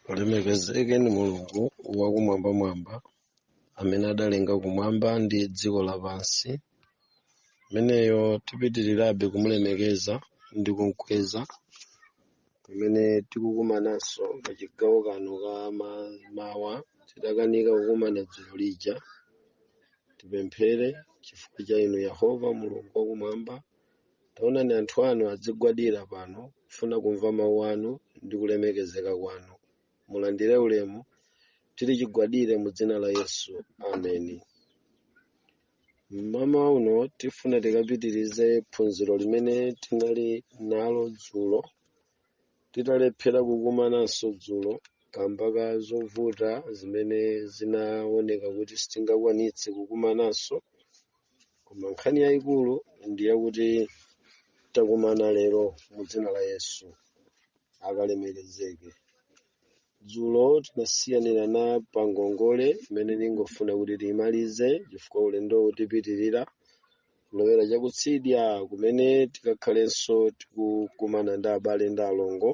Ulemekezeke ndi Mulungu wakumwambamwamba amene adalenga kumwamba ndi dziko lapansi. Ameneyo tipitirirabe kumulemekeza ndi kumkweza pamene tikukumananso pa chigawo kano ka ma- mawa tidakanika kukumana dzulo lija. Tipemphere chifukwa cha inu Yehova Mulungu wakumwamba Taonani anthu anu adzigwadira pano kufuna kumva mawu anu ndi kulemekezeka kwanu. Mulandire ulemu, tili chigwadire mu dzina la Yesu. Ameni. Mmawa uno tifuna tikapitirize phunziro limene tinali nalo dzulo Titalephera kukumananso dzulo kamba ka zovuta zimene zinaoneka kuti sitingakwanitse kukumananso, koma nkhani yayikulu ndi yakuti takumana lero mu dzina la Yesu. Akalemekezeke. dzulo tinasiyanirana pa ngongole imene ndingofuna kuti tiyimalize chifukwa ulendowu tipitirira kulowera chakutsidya kumene tikakhalenso tikukumana ndi abale ndi alongo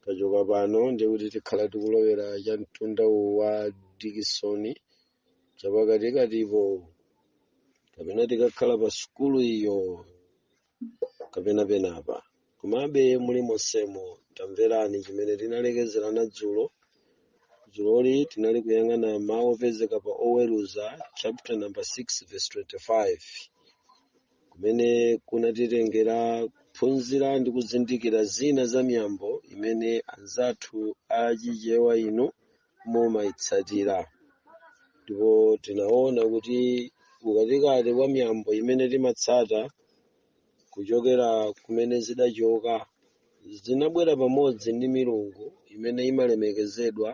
tachoka pano ndiye kuti tikhala tikulowera cha mtunda uwu wa Dikisoni chapakatikatipo kapena tikakhala pa sukulu iyo kapena penapa komabe mulimonsemo tamverani chimene tinalekezerana dzulo dzuloli tinali kuyang'ana mawu opezeka pa oweruza chapter number 6 verse 25 kumene kunatitengera kuphunzira ndi kuzindikira zina za miyambo imene anzathu achichewa inu mumayitsatira ndipo tinaona kuti mkatikati mwa miyambo imene timatsata kuchokera kumene zidachoka zinabwera pamodzi ndi milungu imene imalemekezedwa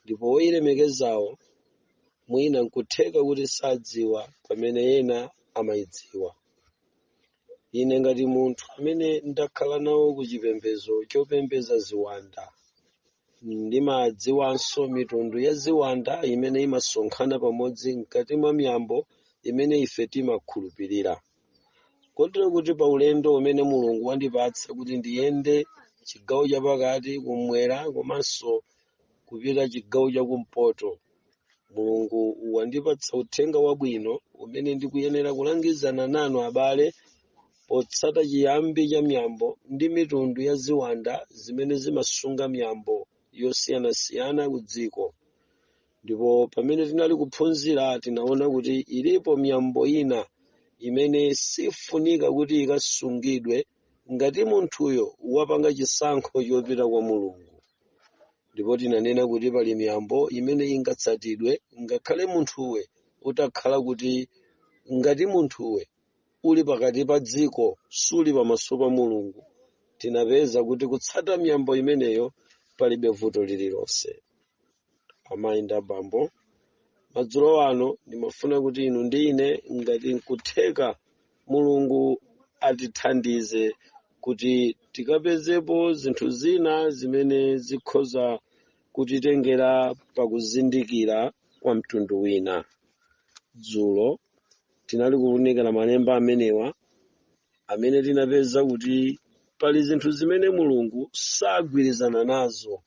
ndipo oyilemekezawo mwina nkutheka kuti sadziwa pamene ena amayidziwa ine ngati munthu amene ndakhala nawo ku chipembedzo chopembedza ziwanda ndimadziwanso mitundu ya ziwanda imene imasonkhana pamodzi mkati mwa miyambo imene ife timakhulupirira kotero kuti pa ulendo umene mulungu wandipatsa kuti ndiyende chigawo chapakati kumwera komanso kupita chigawo chakumpoto mulungu wandipatsa uthenga wabwino umene ndikuyenera kulangizana nanu abale potsata chiyambi cha miyambo ndi mitundu ya ziwanda zimene zimasunga miyambo yosiyanasiyana ku dziko ndipo pamene tinali kuphunzira tinaona kuti ilipo miyambo ina imene sifunika kuti ikasungidwe ngati munthuyo wapanga chisankho chopita kwa mulungu ndipo tinanena kuti pali miyambo imene ingatsatidwe ngakhale munthuwe utakhala kuti ngati munthuwe uli pakati pa dziko suli pamaso pa mulungu tinapeza kuti kutsata miyambo imeneyo palibe vuto lililonse amayi ndi abambo madzulo ano ndimafuna kuti inu ndi ine ngati nkutheka mulungu atithandize kuti tikapezepo zinthu zina zimene zikhoza kutitengera pakuzindikira kwa mtundu wina dzulo tinali kuunikira malemba amenewa amene tinapeza kuti pali zinthu zimene mulungu sagwirizana nazo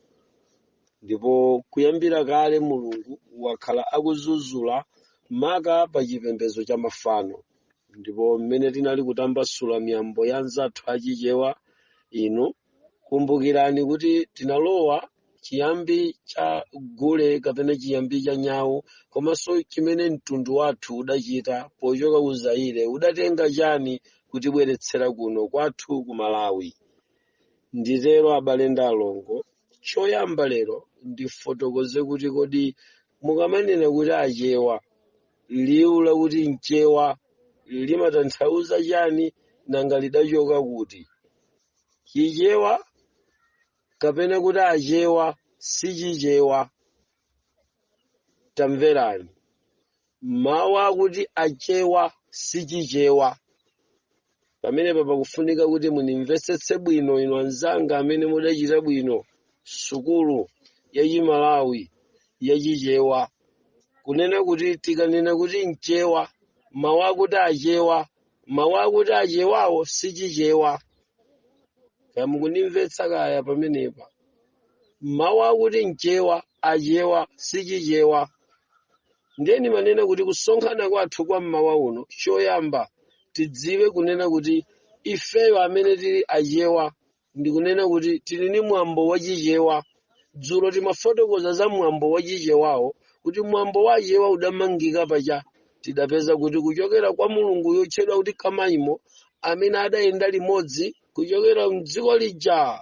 ndipo kuyambira kale mulungu wakhala akudzudzula maka pa chipembedzo cha mafano ndipo mmene tinali kutambasula miyambo ya anzathu achichewa inu kumbukirani kuti tinalowa chiyambi cha gule kapena chiyambi cha nyawu komanso chimene mtundu wathu udachita pochoka ku zaire udatenga chani kutibweretsera kuno kwathu ku malawi nditero abale ndi alongo choyamba lero ndifotokoze kuti kodi mukamanena kuti achewa liwu lakuti mchewa limatanthauza chani nanga lidachoka kuti chichewa kapena kuti achewa si chichewa tamverani mawu akuti achewa si chichewa pamenepa pakufunika kuti munimvetsetse bwino inu anzanga amene mudachita bwino sukulu ya chimalawi ya chichewa kunena kuti tikanena kuti mchewa mawu akuti achewa mawu akuti achewawo si chichewa kaya mukunimvetsa kaya pamenepa mawu akuti mchewa achewa sichichewa ndiye ndimanena kuti kusonkhana kwathu kwa mmawa uno choyamba tidziwe kunena kuti ifeyo amene tili achewa ndikunena kuti tili ni mwambo wachichewa dzulo timafotokoza za mwambo wachichewawo kuti mwambo wa achewa udamangika pacha tidapeza kuti kuchokera kwa mulungu yotchedwa kuti kamaimo amene adayenda limodzi kuchokera mdziko lija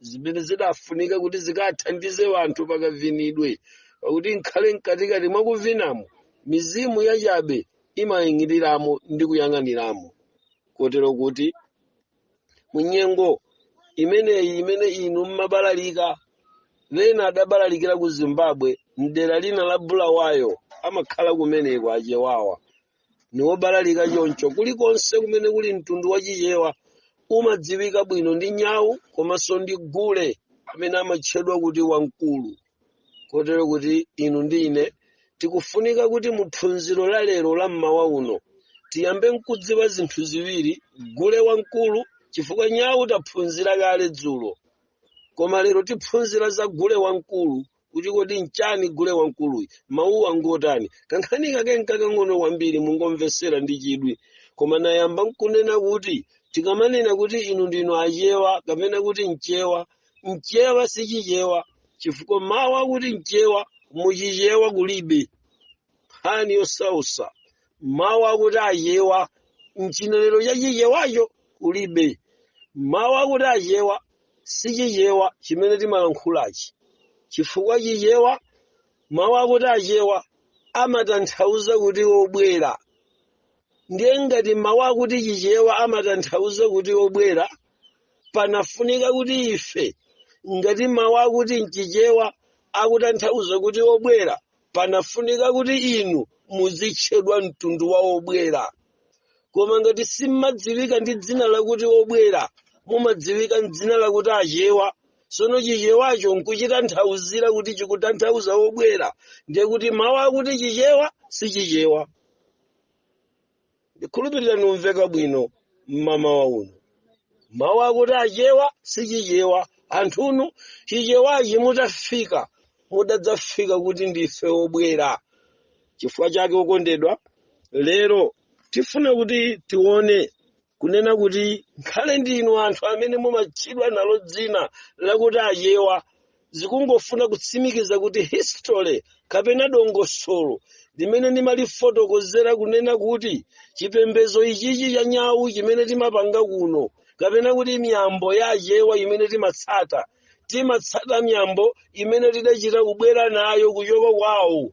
zimene zidafunika kuti zikathandize wanthu pakavinidwe pakuti nkhale mkatikati mwa kuvinamo mizimu yachabe imaying'iliramo ndi kuyang'aniramo kotero kuti munyengo imeneyi imene inu mmabalalika wena adabalalikira ku zimbabwe mdera lina la bulawayo amakhala kumeneko achewawa ni wobalalika choncho kulikonse kumene kuli mtundu wa achewa umadziwika bwino ndi nyawu komanso ndi gule amene amatchedwa kuti wamkulu kotero kuti inu ndi ine tikufunika kuti mu phunziro la lero la mmawa uno tiyambe nkudziwa zinthu ziwiri gule wamkulu chifukwa nyawu taphunzira kale dzulo koma lero tiphunzira za gule wamkulu kuti kodi nchani gule wamkuluyi mawuwa ngotani kankhani kake nkakang'ono kwambiri mungomvetsera ndi chidwi koma nayamba nkunena kuti tikamanena kuti inu ndinu achewa kapena kuti mchewa mchewa sichichewa chifukwa mawu akuti mchewa muchichewa kulibe nkhani yosausa mawu akuti achewa mchinenero cha chichewacho kulibe mawu akuti achewa si chichewa chimene timalankhulachi chifukwa chichewa mawu akuti achewa amatanthauza kuti obwera ndiye ngati mawu akuti chichewa amatanthauza kuti obwera panafunika kuti ife ngati mawu akuti mchichewa akutanthauza kuti obwera panafunika kuti inu muzitchedwa mtundu wa obwera koma ngati simmadziwika ndi dzina lakuti obwera mumadziwika mdzina lakuti achewa sono chichewacho nkuchitanthauzira kuti chikutanthauza obwera ndiye kuti mawu akuti chichewa si chichewa ndikhulupirira numveka bwino mmamawa uno mawu akuti achewa si chichewa anthunu chichewachi mutafika mudadzafika kuti ndife obwera chifukwa chake okondedwa lero tifuna kuti tione kunena kuti nkhale ndinu anthu amene mumatchedwa nalo dzina lakuti achewa zikungofuna kutsimikiza kuti history kapena dongosolo limene ndimalifotokozera kunena kuti chipembedzo ichichi cha nyawu chimene timapanga kuno kapena kuti miyambo ya achewa imene timatsata timatsata miyambo imene tidachita kubwera nayo kuchoka kwawo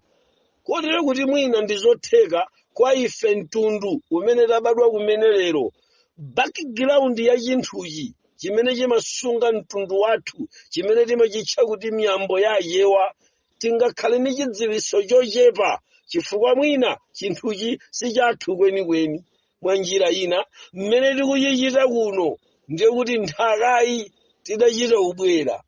kotero kuti mwina ndi zotheka kwa ife mtundu umene tabadwa kumene lero background ya chinthuchi chimene chimasunga mtundu wathu chimene timachitcha kuti miyambo ya achewa tingakhale ndi chidziwitso chochepa chifukwa mwina chinthuchi si chathu kwenikweni mwa njira ina mmene tikuchichita kuno ndiye kuti nthakayi tidachita kubwera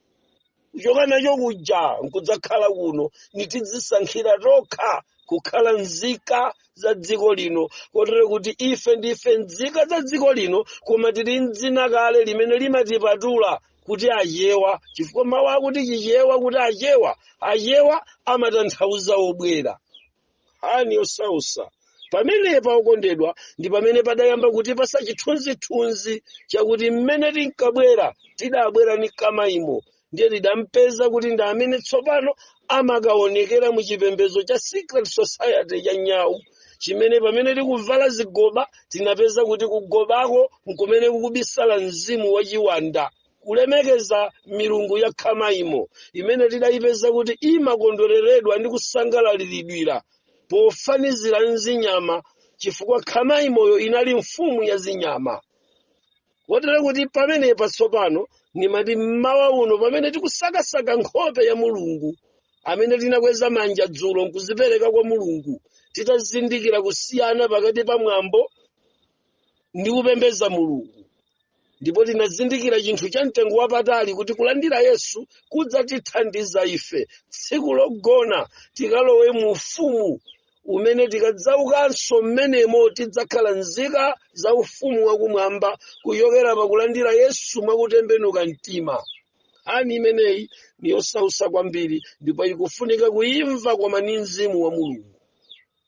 kuchoka nacho kuja nkudzakhala kuno ni kudzisankhira tokha kukhala nzika za dziko lino kotero kuti ife ndife nzika za dziko lino koma tili ndzina kale limene limatipatula kuti achewa chifukwa mawu akuti chichewa kuti achewa achewa amatanthauza obwera nkhani yosausa pamenepa okondedwa ndi pamene padayamba kutipatsa chithunzithunzi chakuti mmene tinkabwera tidabwera ni khama imo ndiye tidampeza kuti ndi amene tsopano amakaonekera mu chipembedzo cha secret society cha nyawu chimene pamene tikuvala zigoba tinapeza kuti kuchigobako nkumene kukubisala mzimu wa chiwanda kulemekeza milungu ya khama imo imene tidayipeza kuti imakondwereredwa ndi kusangalaliridwa pofanizira mzinyama chifukwa khama imoyo inali mfumu ya zinyama kotero kuti pamenepa tsopano nimati mmawa uno pamene tikusakasaka nkhope ya mulungu amene tinakweza manja dzulo nkuzipereka kwa mulungu titazindikira kusiyana pakati pa mwambo ndi kupembeza mulungu ndipo tinazindikira chinthu cha mtengo wapatali kuti kulandira yesu kudzatithandiza ife tsiku logona tikalowe mu ufumu umene tikadzaukanso mmenemo tidzakhala nzika za ufumu wakumwamba kuchokera pakulandira yesu mwakutembenuka mtima nkhani imeneyi ni yosausa kwambiri ndipo ikufunika kuimva koma ni mzimu wa mulungu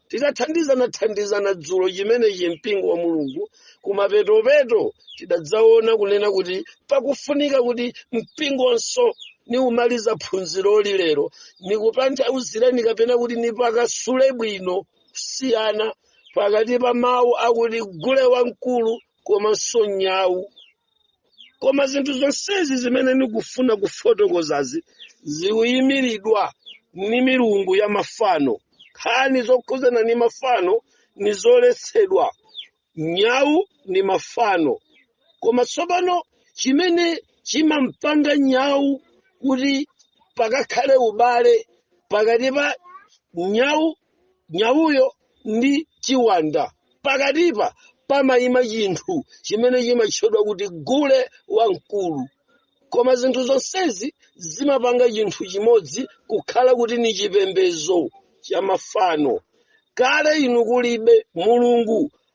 tidathandizanathandizana dzulo chimenechi mpingo wa mulungu kumapetopeto tidadzaona kunena kuti pakufunika kuti mpingonso nimumaliza phunziroli lero nikutanthauzireni kapena kuti niphwasule bwino kusiyana pakati pa mawu akuti gule wamkulu komanso nyawu koma zinthu zonsezi zimene nikufuna kufotokozazi zikuyimiridwa ni milungu ya mafano nkhani zokhudzana ni mafano ni zoletsedwa nyawu ni mafano koma tsopano chimene chimampanga nyawu kuti pakakhale ubale pakati pa nyawu nyawuyo ndi chiwanda pakatipa pamayima chinthu chimene chimatchedwa kuti gule wamkulu koma zinthu zonsezi zimapanga chinthu chimodzi kukhala kuti ni chipembedzo cha mafano kale inu kulibe mulungu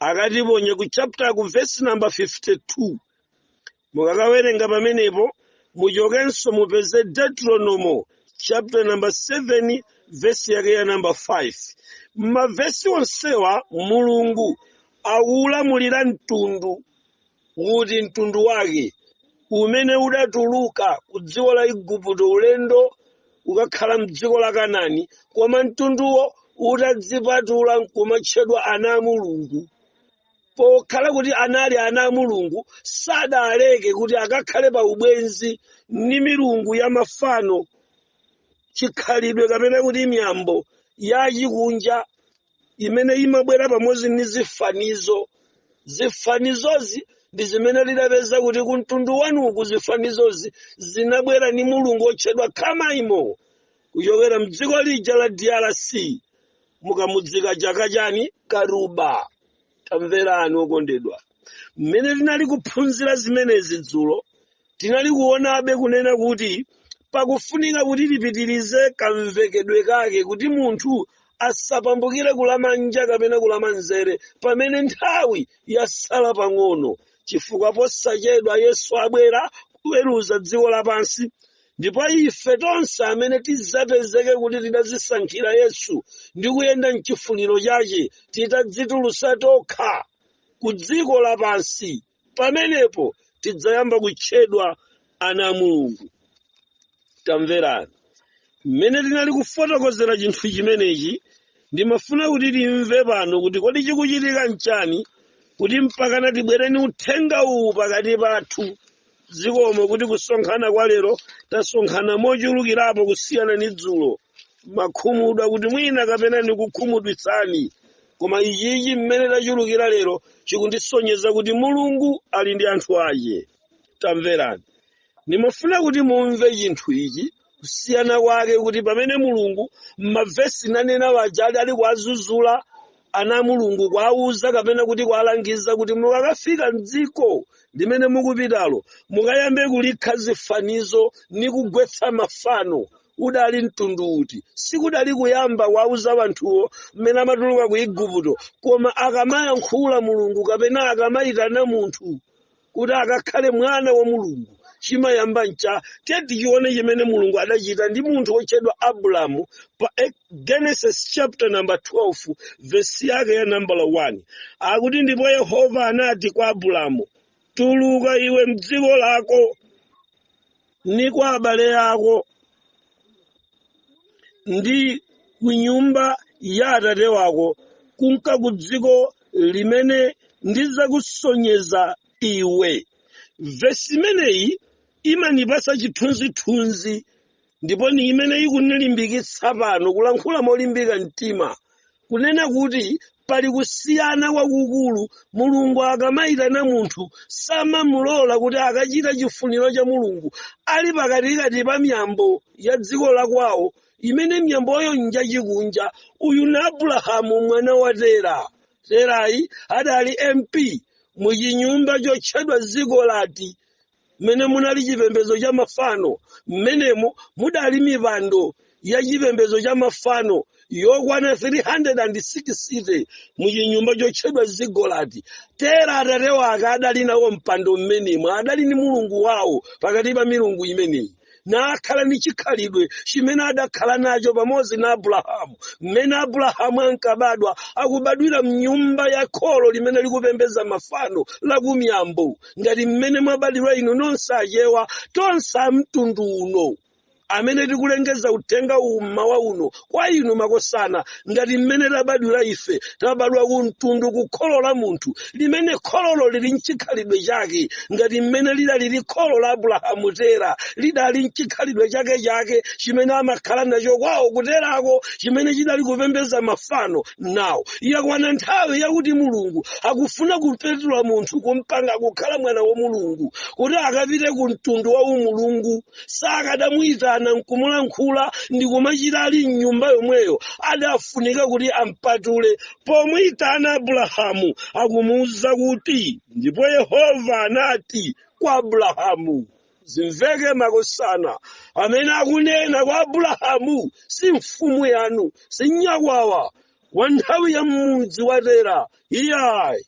akatiponye ku chapter ku verse number 52 mukakawerenga pamenepo muchokenso mupeze deuteronomo chapter number 7 verse yake ya number 5 m'mavesi onsewa mulungu akuulamulira mtundu kuti mtundu wake umene udatuluka ku dziko la igupto ulendo wokakhala mdziko la kanani koma mtunduwo utadzipatula nkumatchedwa ana a mulungu pokhala kuti anali ana a mulungu sadaleke kuti akakhale pa ubwenzi ndi milungu ya mafano chikhalidwe kapena kuti miyambo yachikunja imene imabwera pamodzi ndi zifanizo zifanizozi ndi zimene lidapeza kuti ku mtundu wanuku zifanizozi zinabwera ndi mulungu otchedwa kamaimo kuchokera mdziko lija la drc mukamudzika chaka chani karuba tamverani okondedwa mmene tinali kuphunzira zimenezi dzulo tinali kuonabe kunena kuti pakufunika kuti tipitirize kamvekedwe kake kuti munthu asapambukire kulamanja kapena kulamanzere pamene nthawi yasala pang'ono chifukwa posachedwa yesu abwera kuweruza dziko lapansi ndipo ife tonse amene tidzapezeke kuti tidazisankhira yesu ndi kuyenda mchifuniro chache titadzitulutsa tokha ku dziko lapansi pamenepo tidzayamba kutchedwa ana a mulungu tamverani mmene tinali kufotokozera chinthu chimenechi ndimafuna kuti timve pano kuti kodi chikuchitika nchani kuti mpakana tibwere ni uthenga uwu pakati pathu zikomo kuti kusonkhana kwa lero tasonkhana mochulukirapo kusiyana ndi dzulo nimakhumudwa kuti mwina kapena ndikukhumudwitsani koma ichichi mmene tachulukira lero chikundisonyeza kuti mulungu ali ndi anthu ache tamverani ndimafuna kuti mumve chinthu ichi kusiyana kwake kuti pamene mulungu m'mavesi nanena waja adali kuwazuzula ana a mulungu kuwauza kapena kuti kuwalangiza kuti mukakafika mdziko limene mukupitalo mukayambe kulikha zifanizo ni kugwetsa mafano udali mtundu uti sikudali kuyamba kuwauza wanthuwo mmene amatuluka ku igupto koma akamayankhula mulungu kapena akamayitana munthu kuti akakhale mwana wa mulungu chimayamba ncha tichione chimene mulungu adachita ndi munthu wotchedwa abulamu pa eh, genesis chapter number 12 vesi yake ya nambala 1 akuti ndipo yehova anati kwa abulamu tuluka iwe mdziko lako ndi kwa abale ako ndi ku nyumba ya atate wako kunka ku dziko limene ndidzakusonyeza iwe vesi imeneyi imanipasa chithunzithunzi ndipo ni imene ikunilimbikitsa pano kulankhula molimbika mtima kunena kuti pali kusiyana kwakukulu mulungu akamayitana munthu samamulola kuti akachita chifuniro cha mulungu ali pakatikati pa miyambo ya dziko la kwawo imene miyamboyo njachikunja uyu ni abulahamu mwana wa tera terayi adali mp muchinyumba chotchedwa zigolati mmene munali chipembedzo cha mafano mmenemo mudali mipando ya chipembedzo cha mafano yokwana 360 mu chinyumba chotchedwa zigolati tera atate wake adali nawo mpando mmenemo adali ni mulungu wawo pakati pa milungu imeneyi nakhala ni chikhalidwe chimene adakhala nacho pamodzi na abulahamu mmene abulahamu ankabadwa akubadwira mnyumba ya kholo limene likupembedza mafano la kumiyambo ngati mmene mwabadwira inu nonse achewa tonse amtundu uno amene tikulengeza uthenga uwu mmawa uno kwa inu makosana ngati mmene tabadwira ife tabadwa ku mtundu ku kholo la munthu limene khololo lili mchikhalidwe chake ngati mmene lidalili kholo la abulahamu tera lidali mchikhalidwe chake chake chimene amakhala nacho kwawo kuterako chimene chidali kupembedza mafano nawo yakwana nthawi yakuti mulungu akufuna kupatula munthu kumpanga kukhala mwana wa mulungu kuti akapite ku mtundu wa umulungu sakadamuyitana nkumulankhula ndi kumachita ali mnyumba yomweyo adafunika kuti ampatule pomuyitana abulahamu akumuwuza kuti ndipo yehova anati kwa abulahamu zimveke makosana amene akunena kwa abulahamu si mfumu yanu si nyakwawa wa nthawi ya mudzi wa tera iyayi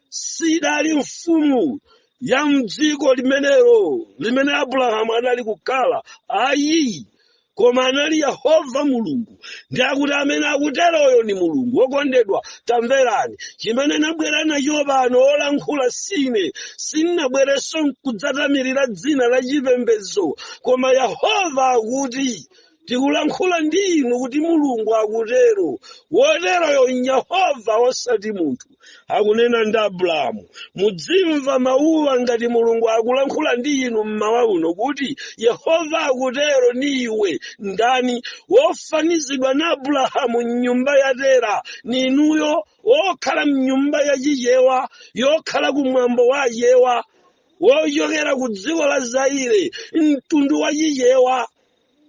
sidali mfumu ya mdziko limenelo limene abulahamu anali kukhala ayi koma anali yehova mulungu ndi akuti amene akuteroyo ni mulungu wokondedwa tamverani chimene nabwera nacho pano olankhula sine sinnabwerenso kudzatamirira dzina la chipembedzo koma yehova akuti tikulankhula ndi inu kuti mulungu akutero woteroyo yehova osati munthu akunena ndi abulahamu mudzimva mawuwa ngati mulungu akulankhula ndi inu mmawa uno kuti yehova akutero ni iwe ndani wofanizidwa na abulahamu mnyumba ya tera ni inuyo wokhala mnyumba ya chichewa yokhala kumwambo wa achewa wochokera ku dziko la zaire mtundu wa chichewa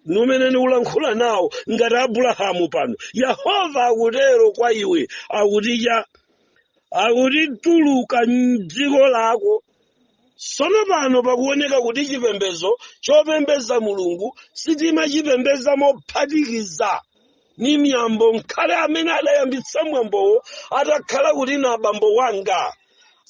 ndi umene ndikulankhula nawo ngati abulahamu pano yehova akutero kwa iwe akuti cha akuti tuluka m'dziko lako sono pano pakuoneka kuti chipembedzo chopembedza mulungu sitimachipembedza mophatikiza ni miyambo nkhale amene adayambitsa mwambowo atakhala kuti na abambo wanga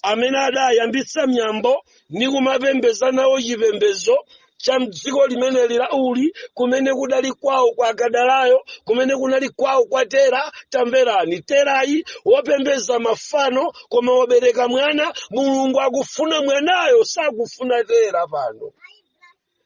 amene adayambitsa miyambo ni kumapembeza nawo chipembezo cha mdziko limene lija uli kumene kudali kwawo kwa akadalayo kumene kunali kwawo kwa tera tamverani terayi wopembeza mafano koma wobereka mwana mulungu akufuna mwanayo sakufuna tera pano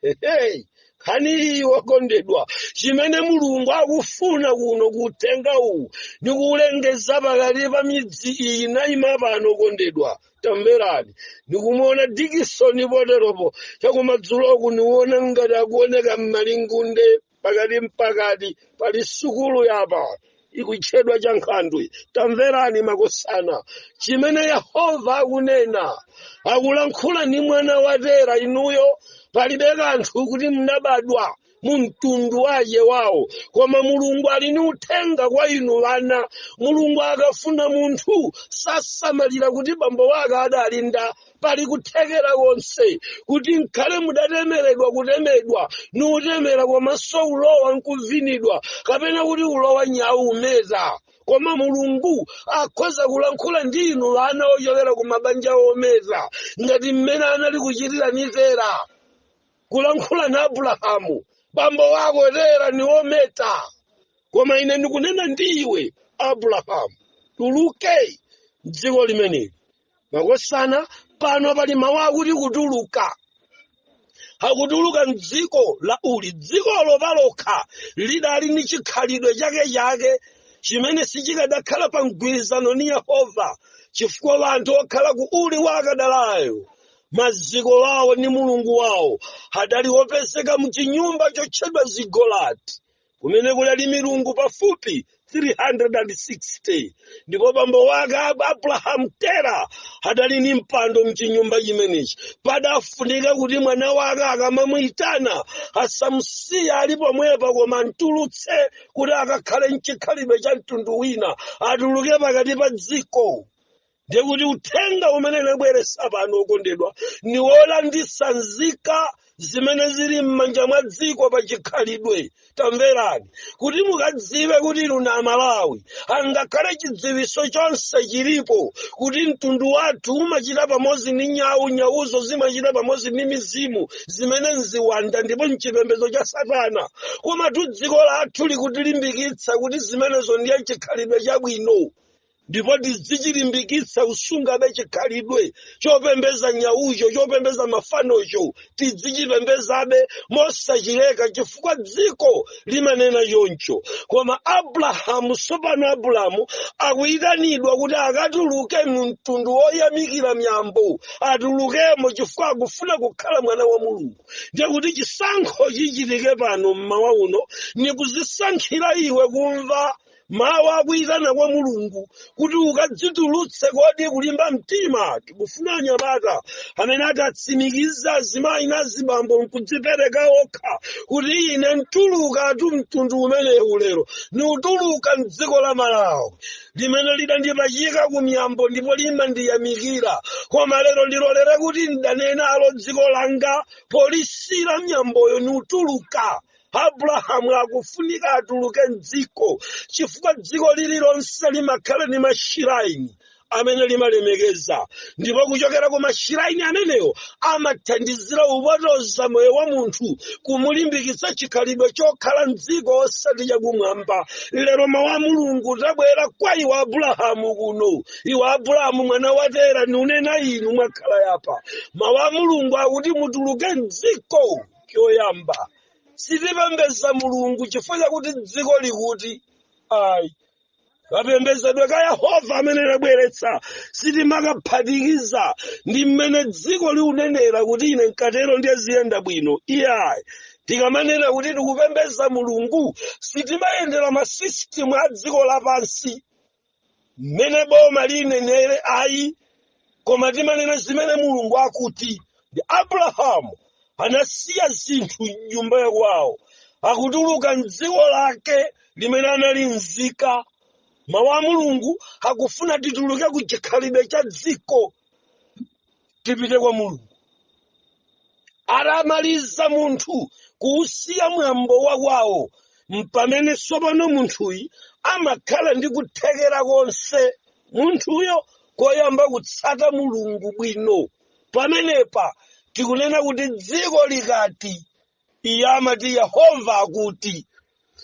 Hey, nkhani wokondedwa chimene mulungu akufuna kuno kutenga uwu ndi kuulengeza pakati pa midzi iyi nayima pano okondedwa tamverani ndikumuona dikisoni poteropo chakumadzuloku niwona ngati akuoneka m'malingunde pakati mpakati pali sukulu apa ikutchedwa cha nkhandwe tamverani makosana chimene yehova akunena akulankhula ndi mwana wa tera inuyo palibe kanthu kuti mnabadwa mu mtundu wa yawo koma mulungu ali ni uthenga kwa inu wana mulungu akafuna munthu sasamalira kuti bambo wake adali ndani pali kuthekera konse kuti nkhale mudatemeredwa kutemedwa ni utemera komanso ulowa nkuvinidwa kapena kuti ulowa nyawu umeta koma mulungu akhoza kulankhula ndi inu ana ochokera ku mabanja ometa ngati mmene anali kuchitira ni tera kulankhula na abulahamu bambo wako tera ni ometa koma ine ndikunena ndi iwe abulahamu tuluke mdziko limeneli makosana pano pali mawu akuti kutuluka akutuluka mdziko la uli dzikolo palokha lidali ndi chikhalidwe chake chake chimene sichikadakhala pa mgwirizano ni yehova chifukwa wanthu okhala ku uli wa akadalayo maziko wawo ni mulungu wawo adali opezeka mchinyumba chotchedwa zigolati kumene kunali milungu pafupi 360 ndipo bambo wake Ab- abrahamu tera adali ndi mpando mchinyumba chimenechi padafunika kuti mwana wake akamamuyitana asamusiye ali pomwepa koma amtulutse kuti akakhale mchikhalidwe cha mtundu wina atuluke pakati pa dziko ndiye kuti uthenga umene nabweresa pano okondedwa ni wolanditsa nzika zimene zili m'manja mwa dziko pa chikhalidwe tamverani kuti mukadziwe kuti inu amalawi angakhale chidziwiso chonse chilipo kuti mtundu wathu umachita pamodzi ni nyawu nyawuzo zimachita pamodzi ni mizimu zimene nziwanda ndipo mchipembezo cha satana komatu dziko lathu likutilimbikitsa kuti zimenezo ndiye chikhalidwe chabwino ndipo tidzichilimbikitsa usungabe chikhalidwe chopembeza nyaucho chopembeza mafanocho tidzichipembezabe mosachileka chifukwa dziko limanena choncho koma abrahamu sopano abrahamu akuyitanidwa kuti akatuluke mu mtundu woyamikira miyambo atulukemo chifukwa akufuna kukhala mwana wa mulungu ndiye kuti chisankho chichitike pano mmawa uno ni kuzisankhira iwe kumva mawu akuyitana kwa mulungu kuti ukadzitulutse kodi kulimba mtima tikufuna anyamata amene atatsimikiza azimayi na azibambo nkudzipereka okha kuti ine ntulukatu mtundu umenewu lero niutuluka mdziko la malawi limene lidandipachika ku miyambo ndipo limandiyamikira koma lero ndilolere kuti ndidanenalo dziko langa polisi la miyamboyo niutuluka abrahamu akufunika atuluke mdziko chifukwa dziko lililonse limakhala ni mashiraini amene limalemekeza ndipo kuchokera ku mashiraini amenewo amathandizira upotoza moyo wa munthu kumulimbikitsa chikhalidwe chokhala mdziko osati chakumwamba lero mawu a mulungu utabwera kwa iwe abrahamu kuno iwe abrahamu mwana wa tera niunena inu mwakhala yapa mawu a mulungu akuti mutuluke mdziko choyamba sitipembeza mulungu chifukwa chakuti dziko likuti ayi kapembezedwe ka yehova amene anabweretsa sitimaphatikiza ndi mmene dziko liunenera kuti ine nkatero ndiye ziyenda bwino iyayi tikamanena kuti tikupembeza mulungu sitimayendera masisitimu a dziko lapansi mmene boma liunenera ayi koma timanena zimene mulungu akuti ndi abrahamu anasiya zinthu m'nyumba yakwawo akutuluka mdziko lake limene anali nzika mawu a mulungu akufuna tituluke ku chikhalidwe cha dziko tipite kwa mulungu atamaliza munthu kuusiya mwambo wa kwawo mpamene sopano munthuyi amakhala ndi kuthekera konse munthuyo koyamba kutsata mulungu bwino pamenepa tikunena kuti dziko likati iye amati yehova akuti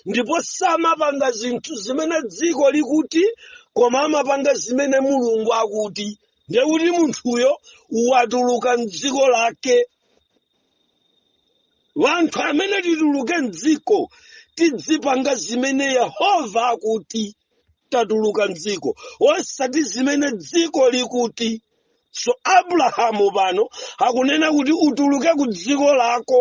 ndipo samapanga zinthu zimene dziko likuti koma amapanga zimene mulungu akuti ndiye kuti munthuyo watuluka mdziko lake wanthu amene tituluke mdziko tidzipanga zimene yehova akuti tatuluka mdziko osati zimene dziko likuti so abrahamu pano akunena kuti utuluke ku dziko lako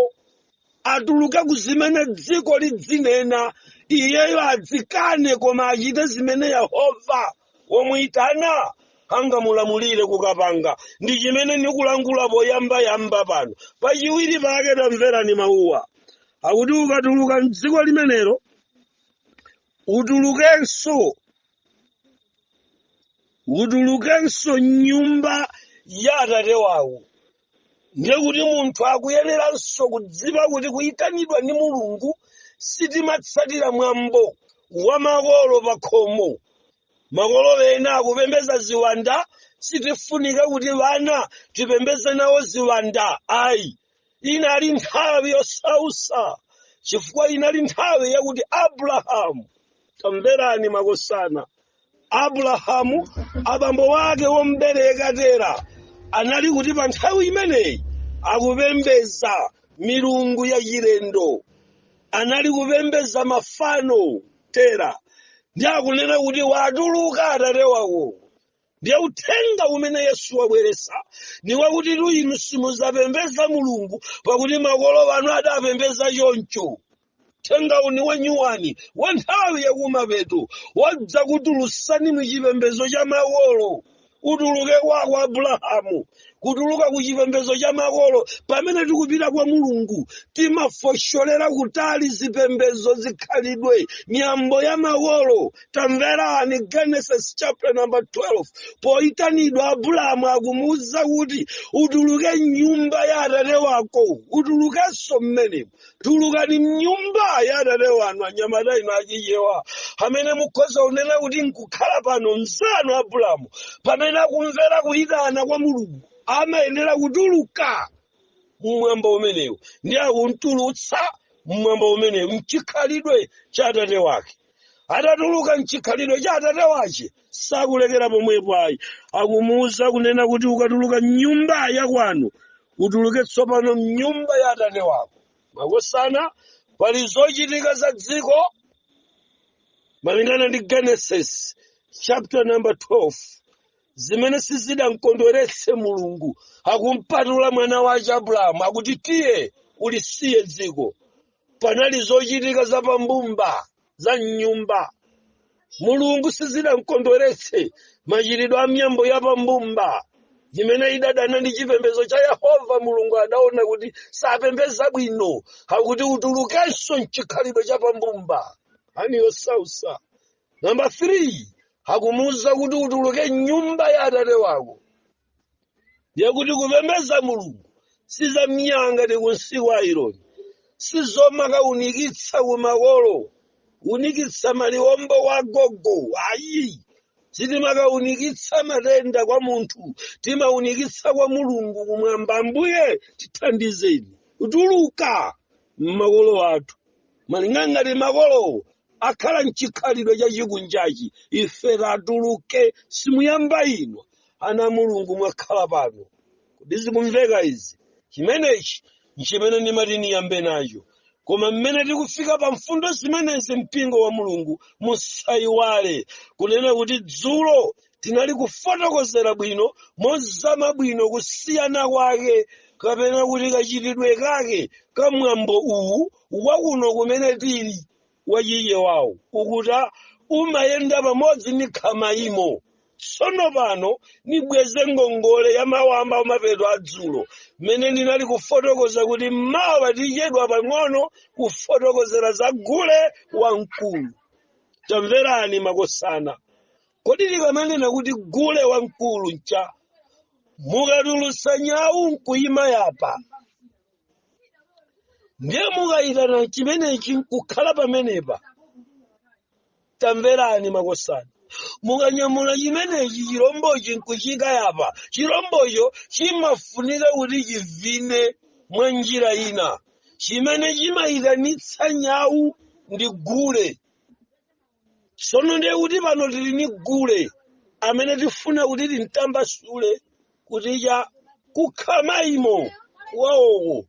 atuluke ku zimene dziko lidzinena iyeyo adzikane koma achite zimene yehova womuyitana angamulamulire kukapanga ndi chimene nikulankhula poyambayamba pano pachiwiri pake tamverani mawuwa akuti ukatuluka mdziko limenelo utulukenso m'nyumba ya atate wawo ndiye kuti munthu akuyeneranso kudziwa kuti kuyitanidwa ndi mulungu sitimatsatira mwambo wa makolo pa khomo makolo ena akupembeza ziwanda sitifunika kuti wana tipembeze nawo ziwanda ayi inali nthawi yosausa chifukwa inali nthawi yakuti abrahamu tamverani makosana abrahamu abambo wake wombereka tera anali kuti pa nthawi imeneyi akupembeza milungu yachilendo anali kupembeza mafano tera ndiye akunena kuti watuluka atate wako ndiye uthenga umene yesu wabweresa ni wakuti tu inu simuzapembeza mulungu pakuti makolo anu adapembeza choncho uthenga uni wanyuwani wa nthawi yakumapeto wadza kukutulusani mu chipembezo cha makolo utuluke kwako abulahamu kutuluka ku chipembedzo cha makolo pamene tikupita kwa mulungu timafosholera kutali zipembedzo zikhalidwe miyambo ya makolo tamverani genesis chapter number 12 poitanidwa abulahamu akumuwuza kuti utuluke mnyumba ya atate wako utulukenso mmenemo tulukani mnyumba ya atate wanu anyamata inu achichewa amene mukhoza kunena kuti nkukhala pano mzanu abulamu pamene akumvera kuyitana kwa mulungu amayenera kutuluka mmwambo umenewu ndiye akuntulutsa mmwambo umenewu mchikhalidwe cha atate wake atatuluka mchikhalidwe cha atate wace sakulekera pomwepo ayi akumuuza kunena kuti ukatuluka mnyumba ya kwanu utuluke tsopano mnyumba ya atate wako makosana pali zochitika za dziko malingana ndi genesis chapter number 12 zimene sizidamkondweretse mulungu akumpatula mwana wace abrahamu akuti tiye ulisiye dziko panali zochitika za pambumba za mnyumba mulungu sizidamkondweretse machitidwe a miyambo ya pambumba imene idadana ndi chipembedzo cha yehova mulungu adaona kuti sapembeza bwino akuti utulukenso mchikhalidwe cha pambumba ani yosausa namba 3 akumuwuza kuti utuluke mnyumba ya atate wako ndiye kuti kupembedza mulungu si za minyanga tikunsiku aironi sizomakaunikitsa kumakolo unikitsa maliwombo wa gogo ayi sitimakaunikitsa matenda kwa munthu timaunikitsa kwa mulungu kumwamba ambuye tithandizeni kutuluka mmakolo athu malinga ngati makolowo akhala mchikhalidwe chachikunjachi ife tatuluke simuyamba ino ana mulungu mwakhala pano kodi zikumveka izi chimenechi nchimene ndimati niyambe nacho koma mmene tikufika pa mfundo zimenezi mpingo wa mulungu musayiwale kunena kuti dzulo tinali kufotokozera bwino mozama bwino kusiyana kwake kapena kuti kachitidwe kake ka mwambo uwu wakuno kumene tili wachiye wawo ukuta umayenda pamodzi ndi khamaimo tsono pano nibweze ngongole ya mawamba amapeto a dzulo mmene ndinali kufotokoza kuti mmawa tichedwa pang'ono kufotokozera za gule wamkulu tamverani makosana kodi tikamanena kuti gule wamkulu ncha mukatulusa nyawu nkuyima yapa ndiye mukayitana chimenechi nkukhala pamenepa tamverani makosana mukanyamula chimenechi chirombochi nkuchikayapa chirombocho chimafunika kuti chivine mwa njira ina chimene chimayitanitsa nyawu ndi gule sono ndiye kuti pano tili ni gule amene tifuna kuti timtambasule kuti cha kukhamaimo waoko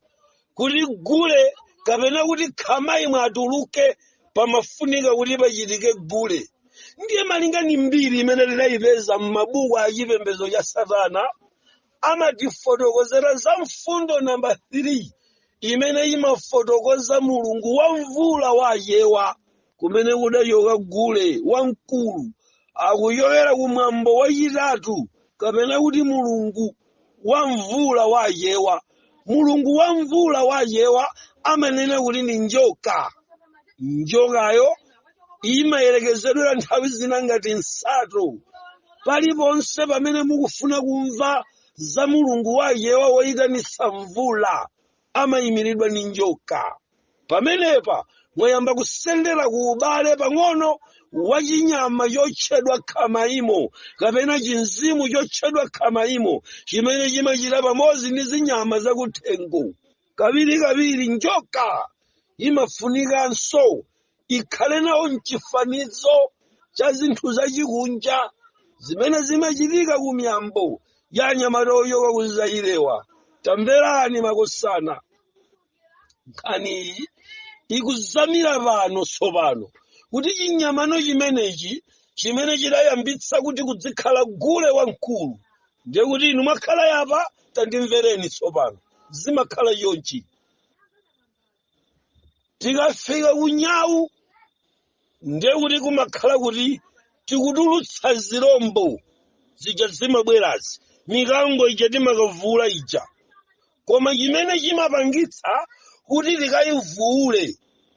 kuti gule kapena kuti khamaimo atuluke pamafunika kuti pachitike gule ndiye malinga ni mbiri imene tidayipeza m'mabuku a chipembedzo cha satana amatifotokozera za mfundo namba 3 imene imafotokoza mulungu wa mvula wa achewa kumene kudachoka gule wamkulu akuchokera ku mwambo wachitatu kapena kuti mulungu wa mvula wa achewa mulungu wa mvula wa achewa amanena kuti ndi njoka njokayo imayerekezedwera nthawi zina ngati nsato paliponse pamene mukufuna kumva za mulungu wa achewa woyitanitsa mvula amayimiridwa ndi njoka pamenepa mwayamba kusendera ku ubale pang'ono wa chinyama chotchedwa khamaimo kapena chimzimu chotchedwa khamaimo chimene chimachita pamodzi ndi zinyama zakuthengo kawirikawiri njoka imafunikanso ikhale nawo mchifanizo cha zinthu zachikunja zimene zimachitika ku miyambo ya anyamata ochoka ku zaire wa tamverani makosana nkhaniyi ikuzamira pano tsopano kuti chinyamano chimenechi chimene chidayambitsa kuti kudzikhala gule wamkulu ndiye kuti inu mwakhala apa tandimvereni tsopano zimakhala chonchi tikafika ku nyau ndiye kuti kumakhala kuti tikutulutsa zirombo zija zimabwerazi mikango ija timakavula ija koma chimene chimapangitsa kuti tikayivule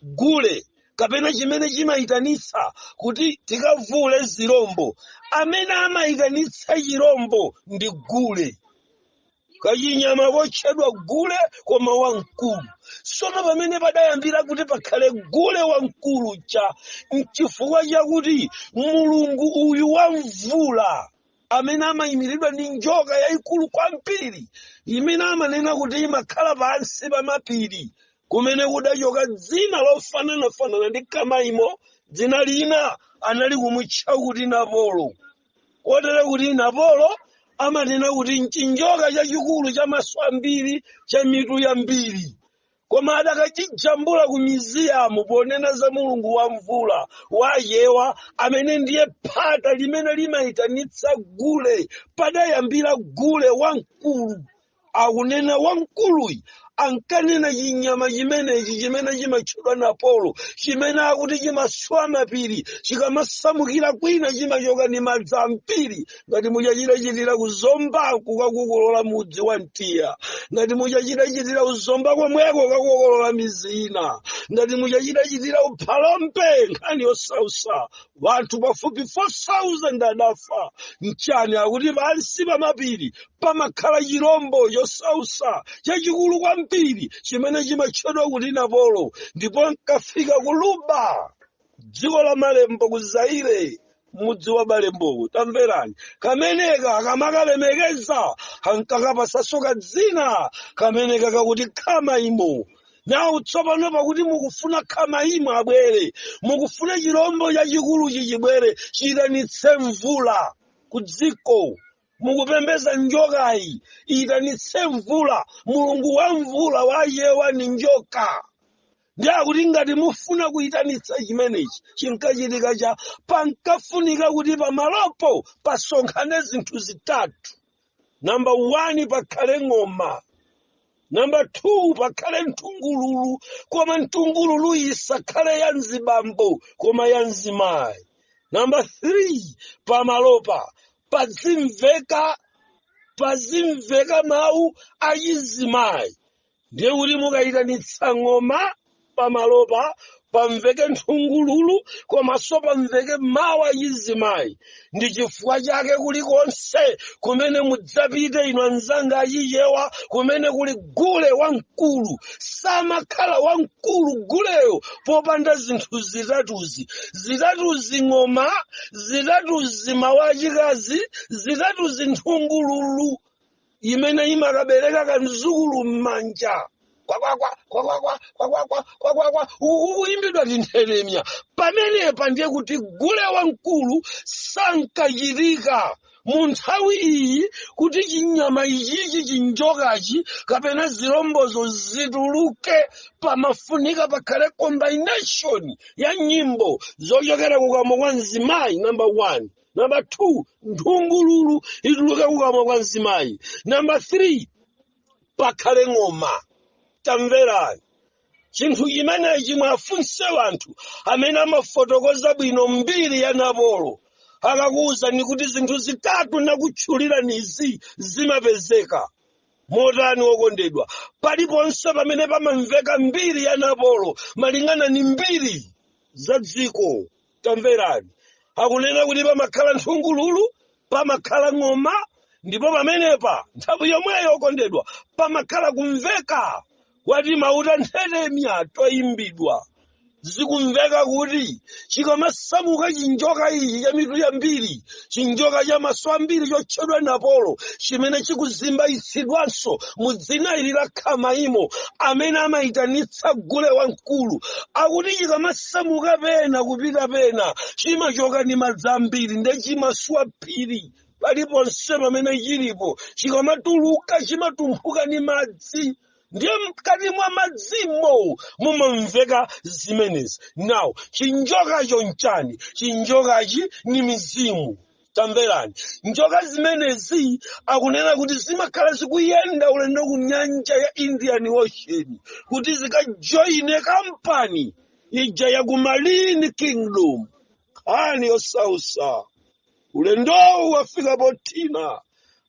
gule kapena chimene chimayitanitsa kuti tikavule zirombo amene amayitanitsa chirombo ndi gule kachinyama kotchedwa gule koma wamkulu sono pamene padayambira kuti pakhale gule wamkulu cha mchifukwa chakuti mulungu uyu wa mvula amene amayimiridwa ndi njoka yayikulu kwambiri imene amanena kuti imakhala pansi pa mapiri kumene kudachoka dzina lofananafanana ndi khamaimo dzina lina anali kumutcha kuti napolo kotero kuti napolo amanena kuti mchinjoka chachikulu cha maso ambiri cha mitu yambiri koma adakachijambula ku museum ponena za mulungu wa mvula wa achewa amene ndiye phata limene limayitanitsa gule padayambira gule wamkulu akunena wamkuluyi ankanena chinyama chimenechi chimene chimatchedwa napolo chimene akuti chimaswa mapiri chikamasamukira kwina chimachoka ndi madzi ambiri ngati mmene chachitachitira ku zombaku kukakokolola mudzi wa mtiya ngati mmene chachitachitira ku zomba komweko kukakokolola midzi ina ngati mmene chachitachitira ku phalombe nkhani yosausa vanthu pafupi 4,000 adafa nchani akuti pansi pa mapiri pamakhala chirombo chosausa chachikulu kwambiri chimene chimatchedwa kuti napolo ndipo ankafika ku luba dziko la malembo ku zaire mudzi wa malemboko tamverani kameneka akamakalemekeza ankakapasanso kadzina kameneka kakuti khama imo nawo tsopano pakuti mukufuna khama imo abwere mukufuna chirombo chachikulu chichibwere chiyitanitse mvula ku dziko mukupembeza njokayi iyitanitse mvula mulungu wa mvula wa achewa ni njoka ndiye kuti ngati mufuna kuyitanitsa chimenechi chinkachitika cha pankafunika kuti pamalopo pasonkhane zinthu zitatu namba 1 pakhale ng'oma namba 2 pakhale nthungululu koma nthungululu isakhale ya mzibambo koma ya mzimayi namba 3 pamalopa pazimveka pazimveka mawu achizimayi ndiye kuti mukayitanitsa ng'oma pamalopa pamveke nthungululu komanso pamveke mawu achizimayi ndi chifukwa chake kulikonse kumene mudzapite inu anzanga achichewa kumene kuli gule wamkulu samakhala wamkulu guleyo popanda zinthu zitatuzi zitatuzi ng'oma zitatuzi mawu achikazi zitatuzi nthungululu imene imakabereka kamzukulu m'manja kwakwakwa kwakwakwa kwakwakwa kwakwakwa ukuyimbidwa tinthetemya pamenepa ndiye kuti gule wamkulu sankachitika mu nthawi iyi kuti chinyama ichichi chinjokachi kapena zilombozo zituluke pamafunika pakhale combination ya nyimbo zochokera kukamwa kwa mzimayi number one namba 2 nthungululu ituluke kukamwa kwa mzimayi namba 3 pakhale ng'oma tamverani chinthu chimenechi muwafunse wanthu amene amafotokoza bwino mbiri ya napolo akakuwuzani kuti zinthu zitatu nakutchulirani izi zimapezeka motani wokondedwa paliponse pamene pamamveka mbiri ya napolo malingana ni mbiri za dziko tamverani akunena kuti pamakhala nthungululu pamakhala ng'oma ndipo pamenepa nthawi yomweyo okondedwa pamakhala kumveka kwa timauta nthetemya toyimbidwa zikumveka kuti chikamasamuka chinjoka ichi cha mitu yambiri chinjoka cha maso ambiri chotchedwa napolo chimene chikuzimbayitsidwanso mu dzina ili la khamayimo amene amayitanitsa gule wamkulu akuti chikamasamuka pena kupita pena chimachoka ndi madzi ambiri nde chimaswa phiri paliponse pamene chilipo chikamatuluka chimatumphuka ndi madzi ndiye mkati mwa madzimo mumamveka zimenezi now chinjokacho nchani chinjokachi ni mizimu tamverani njoka zimenezi akunena kuti zimakhala zikuyenda ulendo ku nyanja ya indian ocean kuti zikajoine kampani ija ya ku marine kingdom nkhani yosausa ulendowu wafika pothina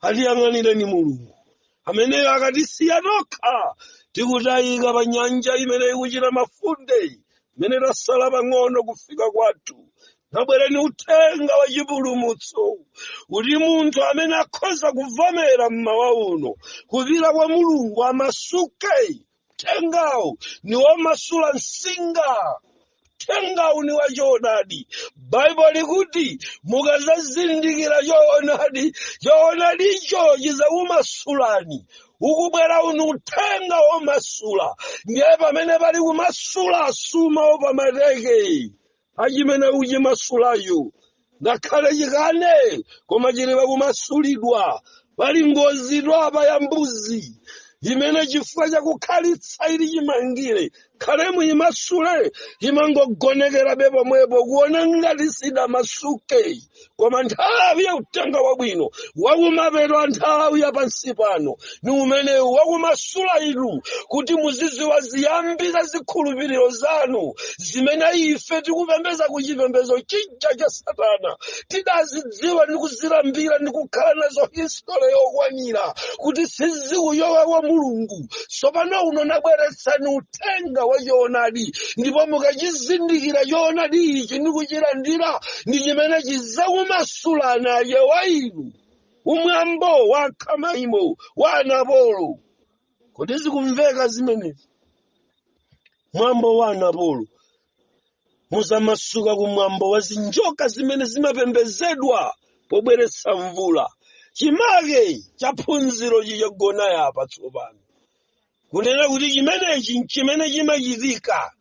atiyang'anireni mulungu ameneyo akatisiya tokha tikutayika pa nyanja imene ikuchita mafundeyi imene tasala pang'ono kufika kwathu nabwereni uthenga wa chipulumutso kuti munthu amene akhoza kuvomera mmawa uno kupita kwa mulungu amasuke Uthengawu ni womasula msinga. Uthengawu ni wachoonadi. Baibulo likuti mukazazindikira choonadi, choonadicho chizakumasulani. Ukubwera uno uthenga womasula. Ndiye pamene pali kumasula sumaopa mateke. achimene uchimasulayo ngakhale chikane koma chili pakumasulidwa pali ngozitu apa ya mbuzi imene chifukwa chakukhalitsa ili chimangire khale muyimasule imangogonekerabe pomwepo kuona ngati sidamasuke koma nthawi ya uthenga wabwino wakumapeto a nthawi ya pansi pano ni umenewu wakumasula inu kuti muziziwa ziyambi za zikhulupiriro zanu zimene ife tikupembeza ku chipembezo chija cha satana tidazidziwa ndi kuzilambira ndi kukhala nazo histole yokwanira kuti sizikuyowa wa mulungu tsopano uno nabweretsani uthenga wa choonadi ndipo mukachizindikira choonadi ichi ndi kuchilandira ndi chimene chizakumasulani aye wa inu ku mwambo wa khamayimo wa anapolo kodi zikumveka zimenezi mwambo wa anapolo muzamasuka ku mwambo wa zinjoka zimene zimapembezedwa pobweretsa mvula chimake cha phunziro chija chagona apa tsopano kunena kuti chimenechi nchimene chimachitika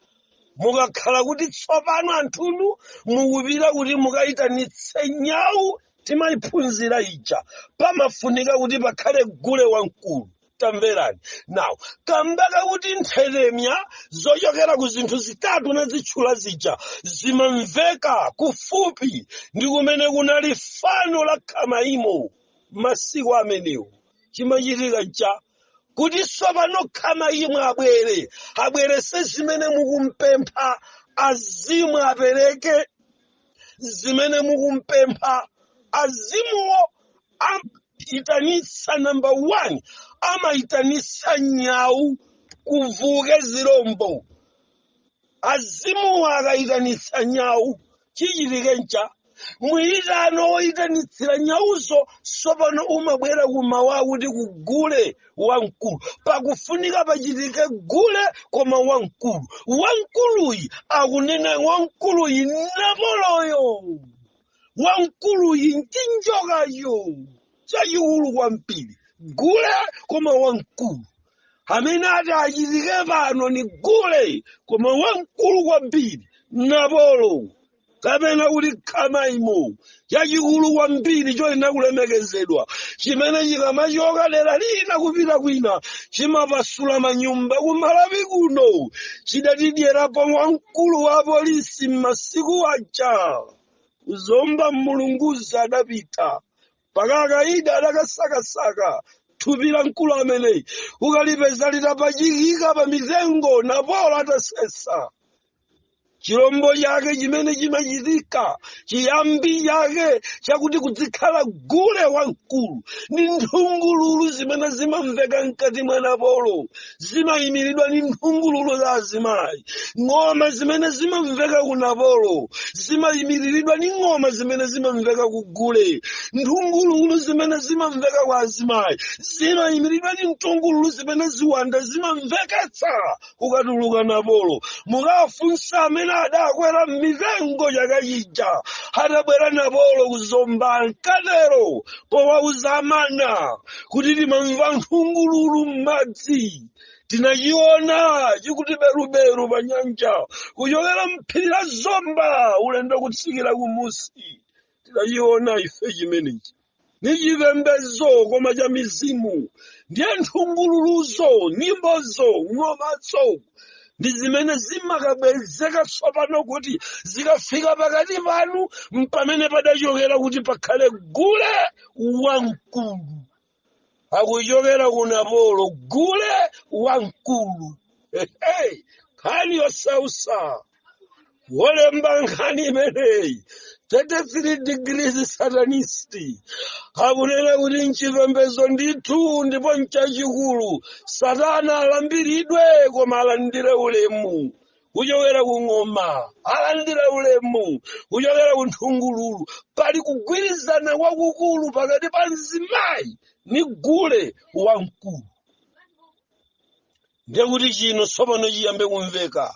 mukakhala kuti tsopano anthunu mukupita kuti mukayitanitse nyawu timayiphunzira ija pamafunika kuti pakhale gule wamkulu tamverani now kamba kakuti nthetemya zochokera ku zinthu zitatu nazitchula zija zimamveka kufupi ndi kumene kunali fano la khamaimo masiku amenewo chimachitika cha kuti tsopano khamaimo abwere abwerese zimene mukumpempha azimu apereke zimene mukumpempha azimuwo amaitanitsa namba 1 amaitanitsa nyawu kuvuke zirombo azimuwa akayitanitsa nyawu chichitike ncha muyitano woyitanitsira nyawuzo sopano umabwera kumawa kuti kugule wamkulu pakufunika pachitike gule koma wamkulu wamkuluyi akunena wamkuluyi napoloyo wamkuluyi nchinjokacho chachikulu kwambiri gule koma wamkulu amene ati achitike pano ni gule koma wamkulu kwambiri napolo kapena kuti khamaimo chachikulu kwambiri choyenera kulemekezedwa chimene chikamachoka dera lina kupita kwina chimapasula manyumba kumalawi kuno chidatidyerapo wamkulu wa polisi m'masiku aja kuzomba mulunguzi adapita mpaka akaidi adakasakasaka thupi la mkulu ameneyi kukalipeza litapachikika pa mitengo napolo atasesa chilombo chake chimene chimachitika chiyambi chake chakuti kudzikhala gule wamkulu ndi nthungululu zimene zimamveka mkati mwa napolo zimayimiridwa ndi nthungululu za azimayi ng'oma zimene zimamveka ku napolo zimayimiriridwa ndi ng'oma zimene zimamveka ku gule nthungululu zimene zimamveka kwa azimayi zimayimiridwa ndi nthungululu zimene ziwanda zimamveketsa kukatuluka napolo mukafunsa amene adakwera m'mitengo chaka chija atabwera napolo kuzomba ankatero powauza amana kuti timamva nthungululu m'madzi tinachiona chikuti beruberu pa nyanja kuchokera mphiri la zomba ulendo kutsikira kumusi tinachiona ife chimenechi ni chipembedzo koma cha mizimu ndiye nthungululuzo nyimbozo ng'omazo ndi zimene zimakabwezeka tsopano kuti zikafika pakati panu mpamene padachokera kuti pakhale gule wamkulu akuchokera ku napolo gule wamkulu Hey, nkhani yosausa wolemba nkhani imeneyi 33 degrees satanist akunena kuti mchipembedzo ndithu ndipo mchachikulu satana alambiridwe koma alandire ulemu kuchokera ku ng'oma alandire ulemu kuchokera ku nthungululu pali kugwirizana kwakukulu pakati pa mzimayi ni gule wamkulu ndiye kuti chino tsopano chiyambe kumveka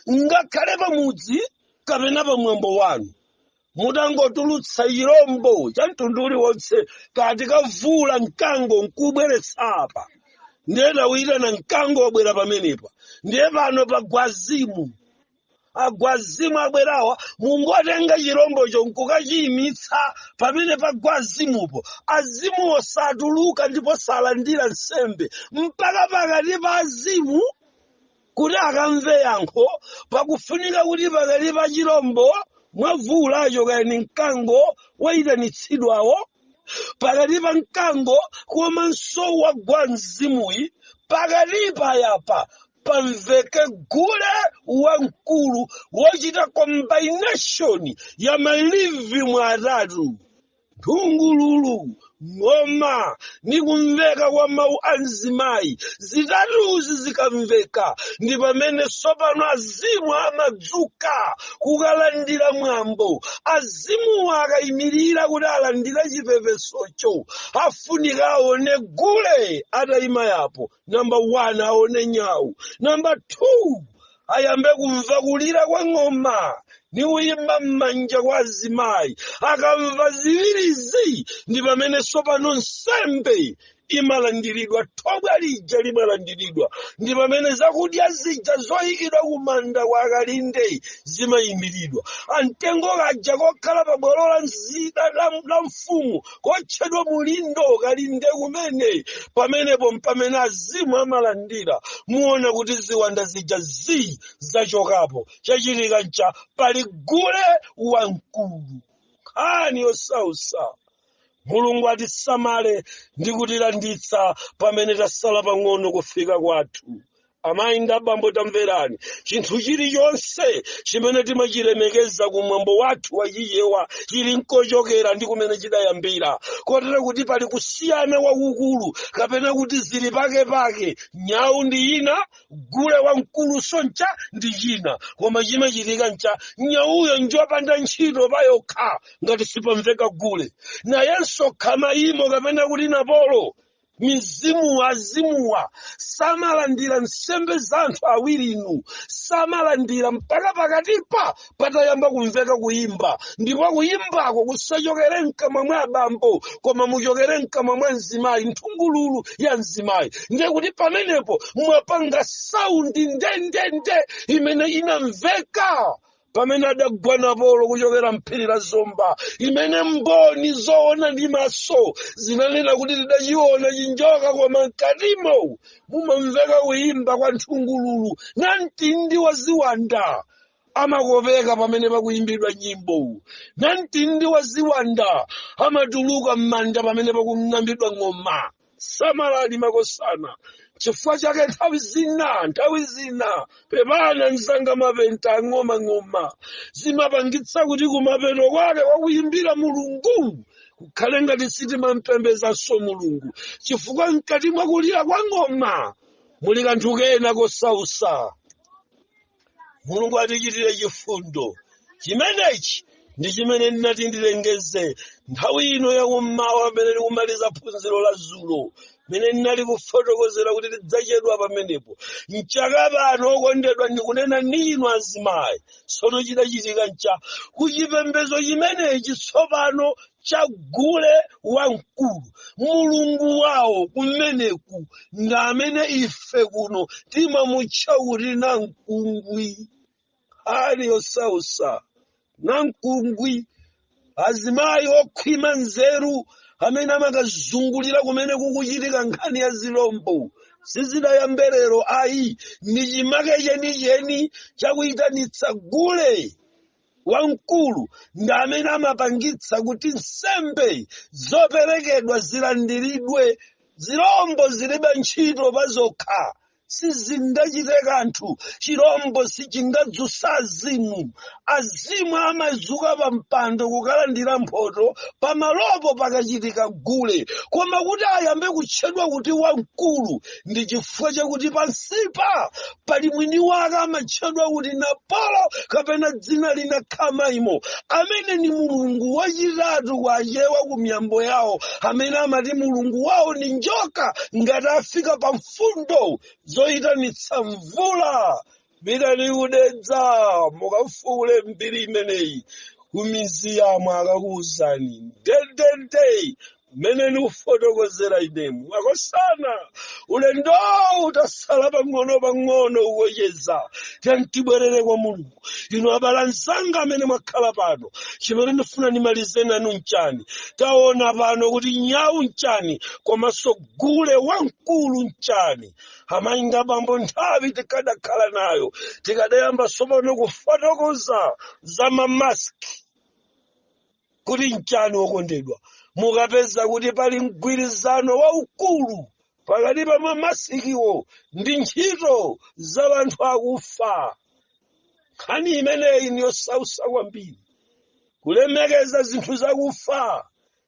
ngakhale pamudzi kapena pamwambo wanu mutangotulutsa chirombo cha mtundu uliwonse kaya tikavula mkango nkubweretsa apa ndiye tawuyitana mkango wabwera pamenepa ndiye pano pagwazimu agwazimu abwerawa mungatenge chirombocho nkukachiyimitsa pamene pagwazimupo azimuwo satuluka ndipo salandira nsembe mpaka pakati pa azimu kuti akamve yankho pakufunika kuti pakati pa chirombo mwavulacho kaya ni mkango wayitanitsidwawo pakati pa mkango komanso wagwa mzimuyi pakati payapa pamveke gule wamkulu wochita combination ya malirime atatu nthungululu ng'oma ndi kumveka kwa mawu a azimayi zitatuzi zikamveka ndi pamene tsopano azimu amadzuka kukalandira mwambo azimuwa akayimirira kuti alandira chipepesocho afunika aone gule atayima yapo namba 1 aone nyau namba 2 ayambe kumva kulira kwa ng'oma ni kuyimba m'manja kwa azimayi akamva ziwirizi ndi pamene sopano nsembe imalandiridwa thobwa lija limalandiridwa ndi pamene zakudya zija zoyikidwa kumanda kwa akalinde zimayimiridwa kamtengo kaja kokhala pa bwalo la nzi- la- la- la mfumu kotchedwa mulindo kalinde kumene pamenepo mpamene azimu amalandira muona kuti ziwanda zija zii zachokapo chachitika ncha pali gule wamkulu nkhani yosausa mulungu atisamale ndi kutilanditsa pamene tasala pang'ono kufika kwathu amayi ndi abambo tamverani chinthu chilichonse chimene timachilemekeza ku mwambo wathu wachichewa chili nkochokera ndi kumene chidayambira kotero kuti pali kusiyana kwakukulu kapena kuti zili pake pake nyawu ndi ina gule wamkulu soncha ndi china koma chimachitika ncha nyawuyo njopanda ntchito payokha ngati sipamveka gule nayenso khama imo kapena kuti napolo mizimu azimuwa samalandira nsembe za anthu awiri inu samalandira mpaka pakatipa patayamba kumveka kuyimba ndipo kuyimbako kusachokere mkamwa mwa abambo koma muchokere mkamwa mwa mzimayi nthungululu ya mzimayi ndiye kuti pamenepo mwapanga saundi ndendende imene inamveka pamene adagwa napolo kuchokera mphiri la zomba imene mboni zoona ndi maso zinanena kuti tidachiona chinjoka koma mkatimo mumamveka kuyimba kwa nthungululu namtindi wa ziwanda amakopeka pamene pakuyimbidwa nyimbo namtindi wa ziwanda amatuluka m'manda pamene pakung'ambidwa ng'oma samalani makosana chifukwa chake nthawi zina nthawi zina pepani anzanga mapenta ang'omang'oma zimapangitsa kuti kumapeto kwake kwakuyimbira mulungu kukhale ngati sitimampembezanso mulungu chifukwa mkati mwakulira kwa ng'oma muli kanthu kena kosausa mulungu atichitire chifundo chimenechi ndi chimene ndinati ndilengeze nthawi ino yakummawa pamene tikumaliza phunziro la zulo mmene ndinali kufotokozera kuti tidzachedwa pamenepo mchaka pano okondedwa ndikunena ndi inu azimayi tsono chidachitika ncha kuchipembezo chimenechi tsopano cha gule wamkulu mulungu wawo kumeneku ndi amene ife kuno timamutcha kuti namkungwi nkhani yosausa namkungwi azimayi okhwima nzeru amene amakazungulira kumene kukuchitika nkhani ya zilombo sizidayambe lero ayi ndi chimake chenicheni chakuyitanitsa gule wamkulu ndi amene amapangitsa kuti nsembe zoperekedwa zilandiridwe zirombo zilibe ntchito pa zokha sizingachite kanthu chirombo sichingadzutsa azimu azimu amazuka pa mpando kukalandira mphoto pamalopo pakachitika gule koma kuti ayambe kutchedwa kuti wamkulu ndi chifukwa chakuti pansipa pali mwini wake amatchedwa kuti napolo kapena dzina lina khamaimo amene ni mulungu wachitatu kwa achewa ku miyambo yawo amene amati mulungu wawo ni njoka ngati afika pa mfundo zoyitanitsa mvula pitani ku dedza mukafukule mbiri imeneyi kumizi yamwe akakuwuzani ndendende mmene ndikufotokozera inemu makosana ulendowu tatsala pang'ono pang'ono kucheza tiyeni tibwerere kwa mulungu inu abale anzanga amene mwakhala pano chimene ndifuna ndimalize nanu mchani taona pano kuti nyawu mchani komanso gule wamkulu mchani amayi ndi abambo nthawi tikadakhala nayo tikadayamba tsopano kufotokoza za mamaski kuti mchani wokondedwa mukapeza kuti pali mgwirizano waukulu pakati pa mamasikiwo ndi ntchito za anthu akufa nkhani imeneyi ni yosautsa kwambiri kulemekeza zinthu zakufa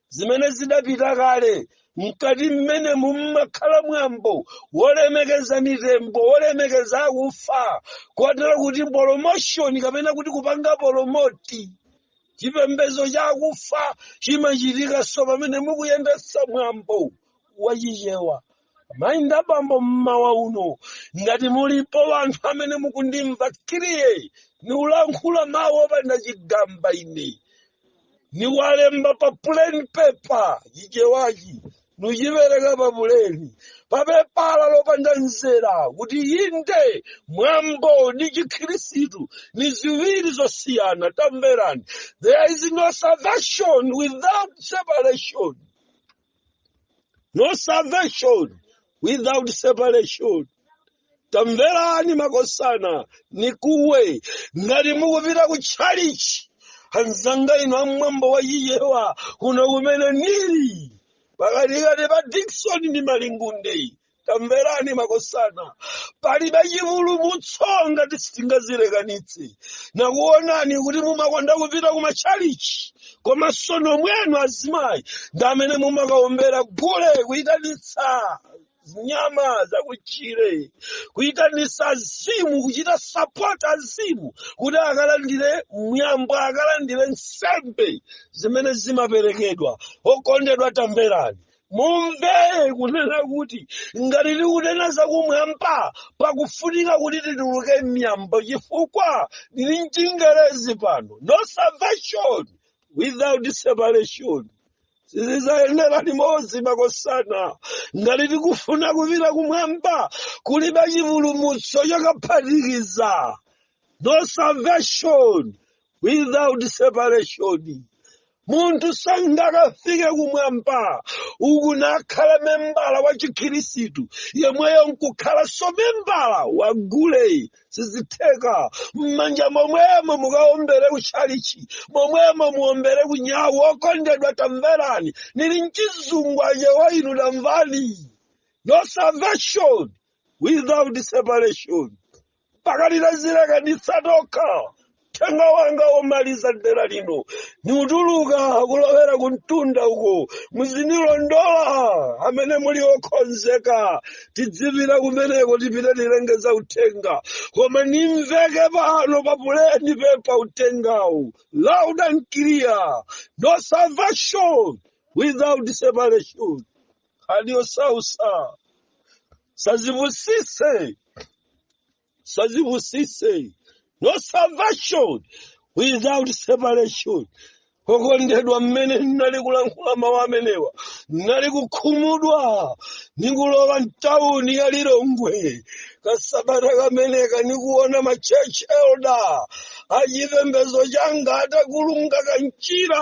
zimene zidapita kale mkati mwenemu mumakhala mwambo wolemekeza mitembo wolemekeza akufa kotero kuti polomoshoni kapena kuti kupanga polomoti chipembedzo chakufa chimachitikanso pamene mukuyendetsa mwambo wachichewa amayi ndi abambo mmawa uno ngati mulipo wanthu amene mukundimva clear nikulankhula mawu opanda chigamba ine nikuwalemba pa plain paper chichewachi nichipereka pa puleni papepala lopanda mzera kuti inde mwambo ndi chikhirisitu ni ziwiri zosiyana tamverani there is no salvation without separation no salvation without separation tamverani makosana nikuwe ngati mukupita ku tchalichi anzanga inu a mwambo wa chichewa kuno kumene nili pakatikati pa dikson ndi malingunde tamverani makosana palibe chipulumutso ngati sitingazilekanitse nakuonani kuti mumakonda kupita ku matchalichi komanso nomwenu azimayi ndi amene mumakaombera gule kuyitanitsa zinyama zakutchire kuyitanitsa azimu kuchita sapota azimu kuti akalandire mwambo akalandire nsembe zimene zimaperekedwa okondedwa tamverani mumve kunena kuti ngati tikunena zakumwamba pakufunika kuti tituluke m'miyambo chifukwa lili mchingerezi pano no salvation without separation sizizayenera limodzi makosana ngati tikufuna kupita kumwamba kulibe chipulumutso chakaphatikiza no salvation without separation munthu sangakafike kumwamba uku nakhala membala wa chikhirisitu yemweyo nkukhalanso membala wa gule sizitheka mmanja momwemo mukaombere kuchalichi momwemo muombere kunyau okondedwa tamverani nili mchizungu achewa inu tamvani no salvation without separation mpaka titazilekanitsa tokha uthenga wanga womaliza dera lino niutuluka kulowera ku mtunda uko muzinilondola amene muli okonzeka tidzipita kumeneko tipite tilengeza uthenga koma nimveke pano pa plain paper uthengawu loud and clear no salvation without separation nkhani yosausa sazipusise sazipusise no salvation without separation okondedwa mmene ndinali kulankhula mawu amenewa ndinali kukhumudwa ndikulowa mtawuni ya lilongwe kasabata kameneka ndikuona machurch elder achipembezo changa atakulunga kanchira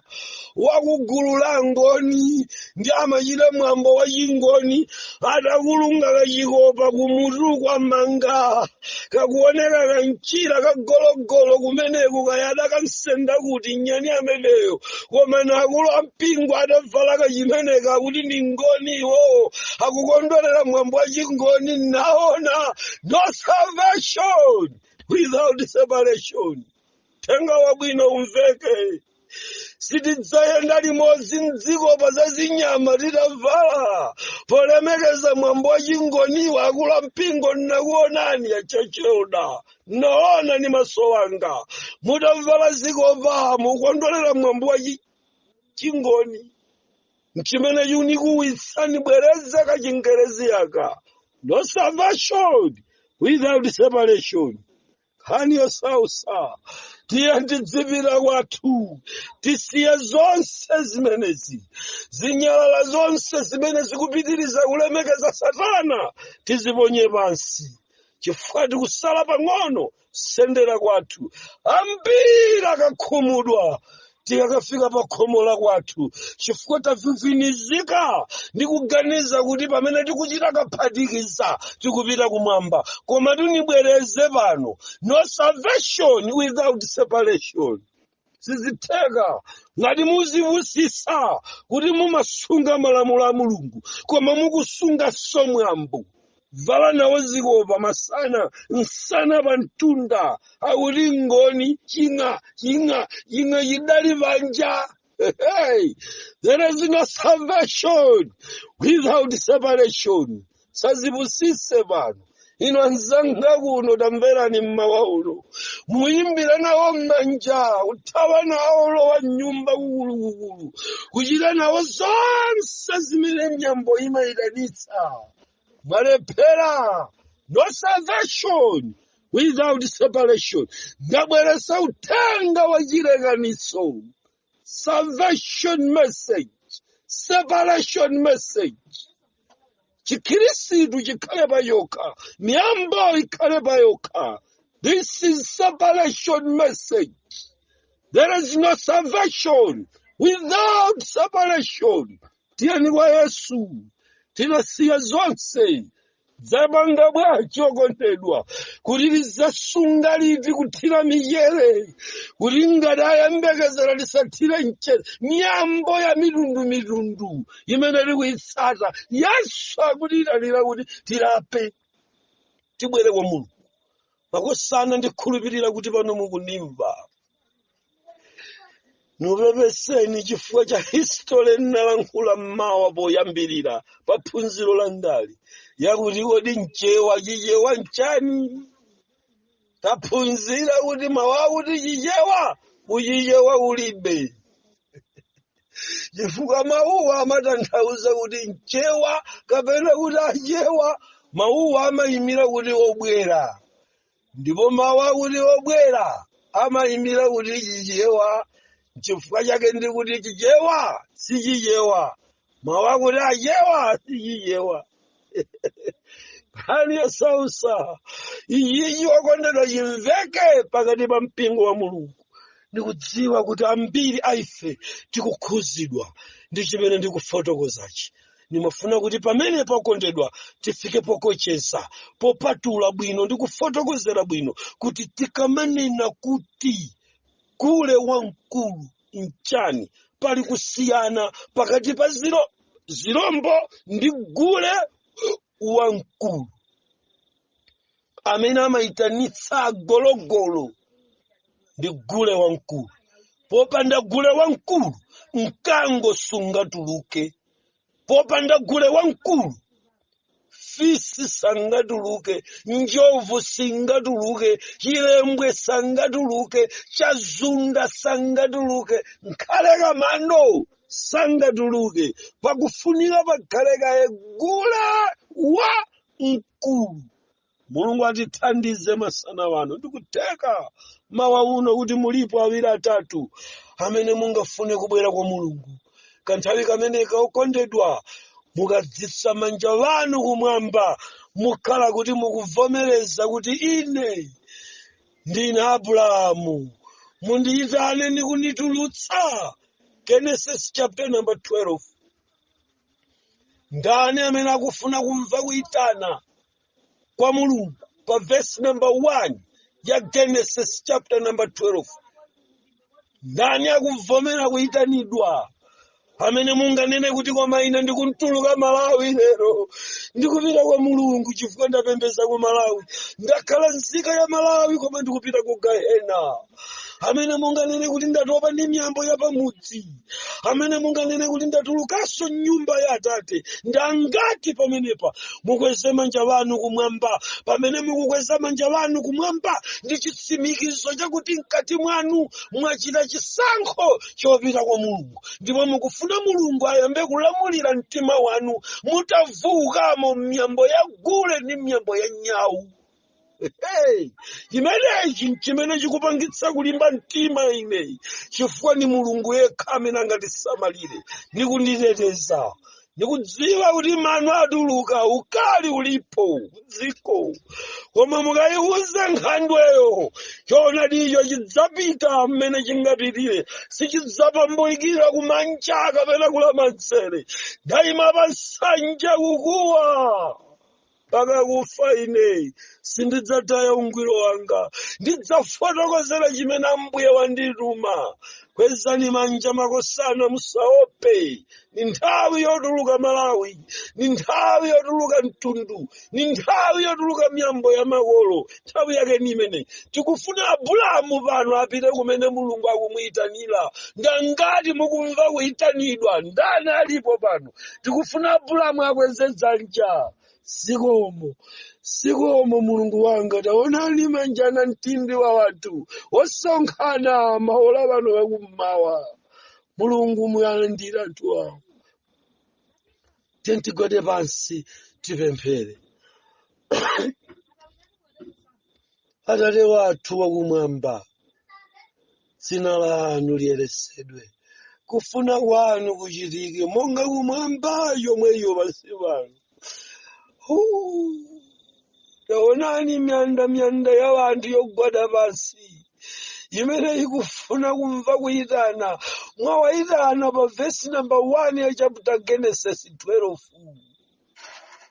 wakugulu la ngoni ndi amachita mwambo wa chingoni atakulunga kachikopa kumutuku amanga kakuoneka kanchira kagologolo kumeneku kaya adakansenda kuti nyani ameneyo komano akulu ampingo atavala kachimeneka kuti ndi ngoni iwowo akukondwerera mwambo wa chingoni naona no salvation without separation uthenga wabwino umveke sitidzayenda limodzi mzikopa za zinyama titavala polemekeza mwambo wa chingoniwa akulu ampingo nnakuonani a church elder naona ni maso anga mutavala zikopa mukondwerera mwambo wa chi- chingoni nchimene chunikuwitsa nibwereza kachingerezi aka no salvation without separation nkhani yosausa tiye tidzipita kwathu tisiye zonse zimenezi zinyalala zonse zimene zikupitiriza kulemekeza satana tiziponye pansi chifukwa tikusala pang'ono kusendera kwathu ambiri akakhumudwa tikakafika pa khomo la kwathu chifukwa tavivinizika ndi kuganiza kuti pamene tikuchita kaphatikiza tikupita kumwamba koma ndibwereze pano no salvation without separation sizitheka ngati muzipusisa kuti mumasunga malamulo a mulungu koma mukusunga zamwambo vala nawo zikopa masana nsana pa mtunda akuti ngoni ching'a ching'a ching'a chidali panja Hey, there is no salvation without separation osazipusise pano inu anzanga kuno tamverani mmawa uno muyimbira nawo mmanja kuthawa nawo lowa mnyumba kukulukukulu kuchita nawo zonse zimene miyambo imayitanitsa mwalephera no salvation without separation ndabweretsa uthenga wa chilekanitso salvation message separation message chikhirisitu chikhale pa chokha miyambo ikhale pa yokha this is separation message there is no salvation without separation tiyeni kwa yesu titasiya zonse zapanga bwanji okondedwa kuti tizasunga liti kuthira michere kuti ngati tayembekezera tisathire mchere miyambo ya mitundu mitundu imene tikuyitsata yesu akutiyitanira kuti tilape tibwere kwa mulungu makosana ndikhulupirira kuti pano mukunimva nikupepeseni chifukwa cha history nnalankhula mmawa poyambirira pa phunziro la ndali yakuti kodi mchewa chichewa nchani taphunzira kuti mawu akuti chichewa kuchichewa ulibe chifukwa mawuwa amatanthauza kuti mchewa kapena kuti achewa mawuwa amayimira kuti obwera ndipo mawu akuti obwera amayimira kuti chichewa nchifukwa chake ndi kuti chichewa si chichewa mawu akuti achewa si chichewa nkhani yosausa iyiyi okondedwa chimveke pakati pa mpingo wa mulungu ndikudziwa kuti ambiri aife tikukhudzidwa ndi chimene ndikufotokozachi ndimafuna kuti pamene pakondedwa tifike pokocheza popatula bwino ndi kufotokozera bwino kuti tikamanena kuti gule wamkulu nchani pali kusiyana pakati pa zirombo ndi gule wamkulu amene amayitanitsa agologolo ndi gule wamkulu popanda gule wamkulu mkango sungatuluke popanda gule wamkulu fisi sangatuluke njovu singatuluke chilembwe sangatuluke chazunda sangatuluke nkhale kamano sangatuluke pakufunika pakhale kaye gule wa mkulu mulungu atithandize masana wano ndikutheka mawa uno kuti mulipo awiri atatu amene mungafune kubwera kwa mulungu kanthawi kameneka okondedwa mukweza manja anu kumwamba mukhala kuti mukuvomereza kuti ine ndine abulahamu mundiyitane ndi kunditulutsa genesis chapter number 12 ndani amene akufuna kumva kuyitana kwa mulungu pa verse number 1 ya genesis chapter number 12 ndani akuvomera kuyitanidwa amene munganene kuti koma ine ndikutuluka malawi lero ndikupita kwa mulungu chifukwa ndapembedza ku malawi ndakhala nzika ya malawi koma ndikupita ku gahena amene munganene kuti ndatopa ndi miyambo ya pamudzi amene munganene kuti ndatulukanso m'nyumba ya atate ndi angati pamenepa mukweze manja anu kumwamba pamene mukukweza manja anu kumwamba ndi chitsimikizo chakuti mkati mwanu mwachita chisankho chopita kwa mulungu ndipo mukufuna mulungu ayambe kulamulira mtima wanu mutatulukamo m'miyambo ya gule ndi m'miyambo ya nyawu Hey, chimenechi nchimene chikupangitsa kulimba mtima ine chifukwa ni mulungu yekha amene angandisamalire ndi kunditeteza ndikudziwa kuti mano atuluka ukali ulipo m'dziko koma mukayiwuza nkhandweyo choonadicho chidzapita mmene chingapitire sichidzapambukira kumanja kapena kulamanzere ndayima pa nsanja kukuwa mpaka kufa ine sindidzataya ungwiro wanga ndidzafotokozera chimene ambuye wandituma kwezani manja makosana musaope ni nthawi yotuluka malawi ni nthawi yotuluka mtundu ni nthawi yotuluka miyambo ya makolo nthawi yake ni imene tikufuna abulamu pano apite kumene mulungu akumuyitanira ndi angati mukumva kuyitanidwa ndani alipo pano tikufuna abulamu akweze dzanja zikomo zikomo mulungu wanga taonani manja namtindi wa wanthu osonkhana maola ano akummawa mulungu muwalandire anthu awa tiyeni tigwade pansi tipemphere atate wathu wakumwamba dzina lanu liyeresedwe kufuna kwanu kuchitike monga kumwamba chomwecho pansi pano taonani miyandamiyanda ya wanthu yogwada pansi imene ikufuna kumva kuyitana mwawayitana pa vesi namba 1 ya chapter genesis 12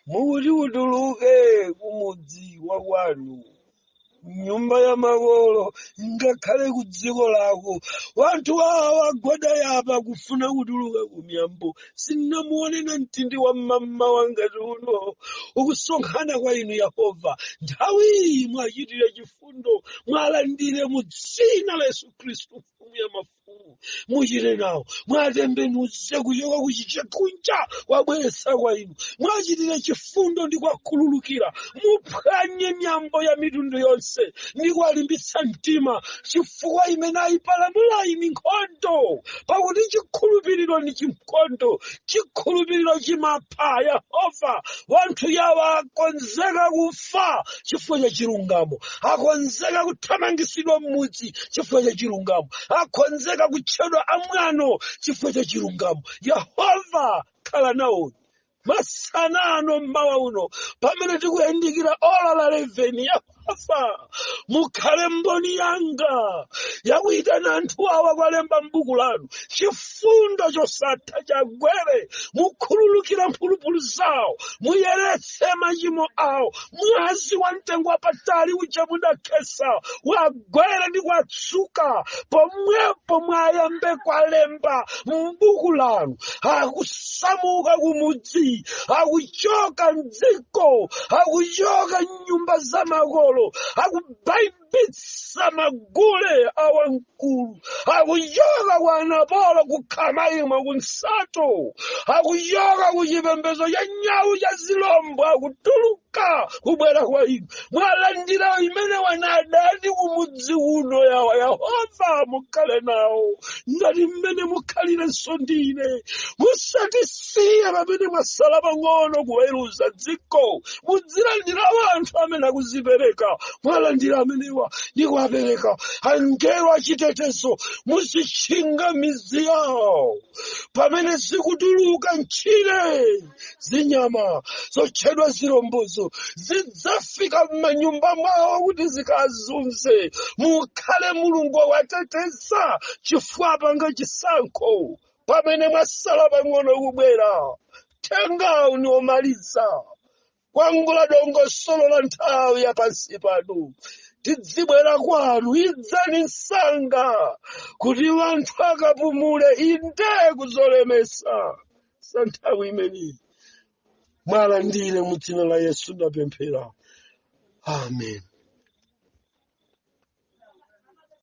mukuti utuluke kumudzi wa kwanu nyumba ya makolo ngakhale ku dziko lako wanthu awa agwada apa kufuna kutuluka ku miyambo sinamuone namtindi wa mmamawa ngati uno ukusonkhana kwa inu yehova nthawi iyi mwachitire chifundo mwalandire mu dzina la yesu khristu mfumu ya mafumu muchite nawo mwatembenuze kuchoka kuchiche kunja wabweresa kwa inu mwachitire chifundo ndi kwakhululukira muphwanye miyambo ya mitundu yonse ndi kuwalimbitsa mtima chifukwa imene ayipalamulayi ndi nkhondo pakuti chikhulupiriro ndi chinkhondo chikhulupiriro chimapha kupha yehova wanthu awa akonzeka kufa chifukwa cha chilungamo akonzeka kuthamangisidwa m'mudzi chifukwa cha chilungamo akonzeka kutchedwa amwano chifukwa cha chilungamo yehova khala nawo masana ano mmawa uno pamene tikuyandikira ola la 11 yehova Yehova mukhale mboni yanga yakuyitana anthu awa kwalemba m'buku lanu chifundo chosatha chagwere mukhululukira mphulupulu zawo muyeretse machimo awo mwazi wa mtengo wapatali uja mudakhesa wagwere ndi kwatsuka pomwepo mwayambe kwalemba m'buku lanu akusamuka kumudzi akuchoka mdziko akuchoka nyumba za makolo akubaibitsa magule awamkulu akuchoka kwa anapolo kukhama imwe kunsato akuchoka ku chipembedzo cha nyawu cha zilombo akutuluka kubwera kwa inu mwalandire imene wanadani kumudzi uno yawa yehova mukhale nawo ngati mmene mukhalirenso ndine musati siya pamene mwasala pang'ono kuweruza dziko mudzilandira anthu amene akuzipereka mwalandira amenewa ndi kuwapatsa angelo achitetezo muzitchinga midzi yawo pamene zikutuluka m'tchire zinyama zotchedwa zilombozo zidzafika m'manyumba mwawo kuti zikazunze mukhale mulungu owateteza chifukwa apanga chisankho pamene mwasala pang'ono kubwera thangatani omaliza kwangula dongosolo la nthawi ya pansi pano tidzibwera kwanu idzani msanga kuti wanthu akapumule inde kuzolemesa sa nthawi imeneyi muwalandire mu dzina la yesu ndapemphera amen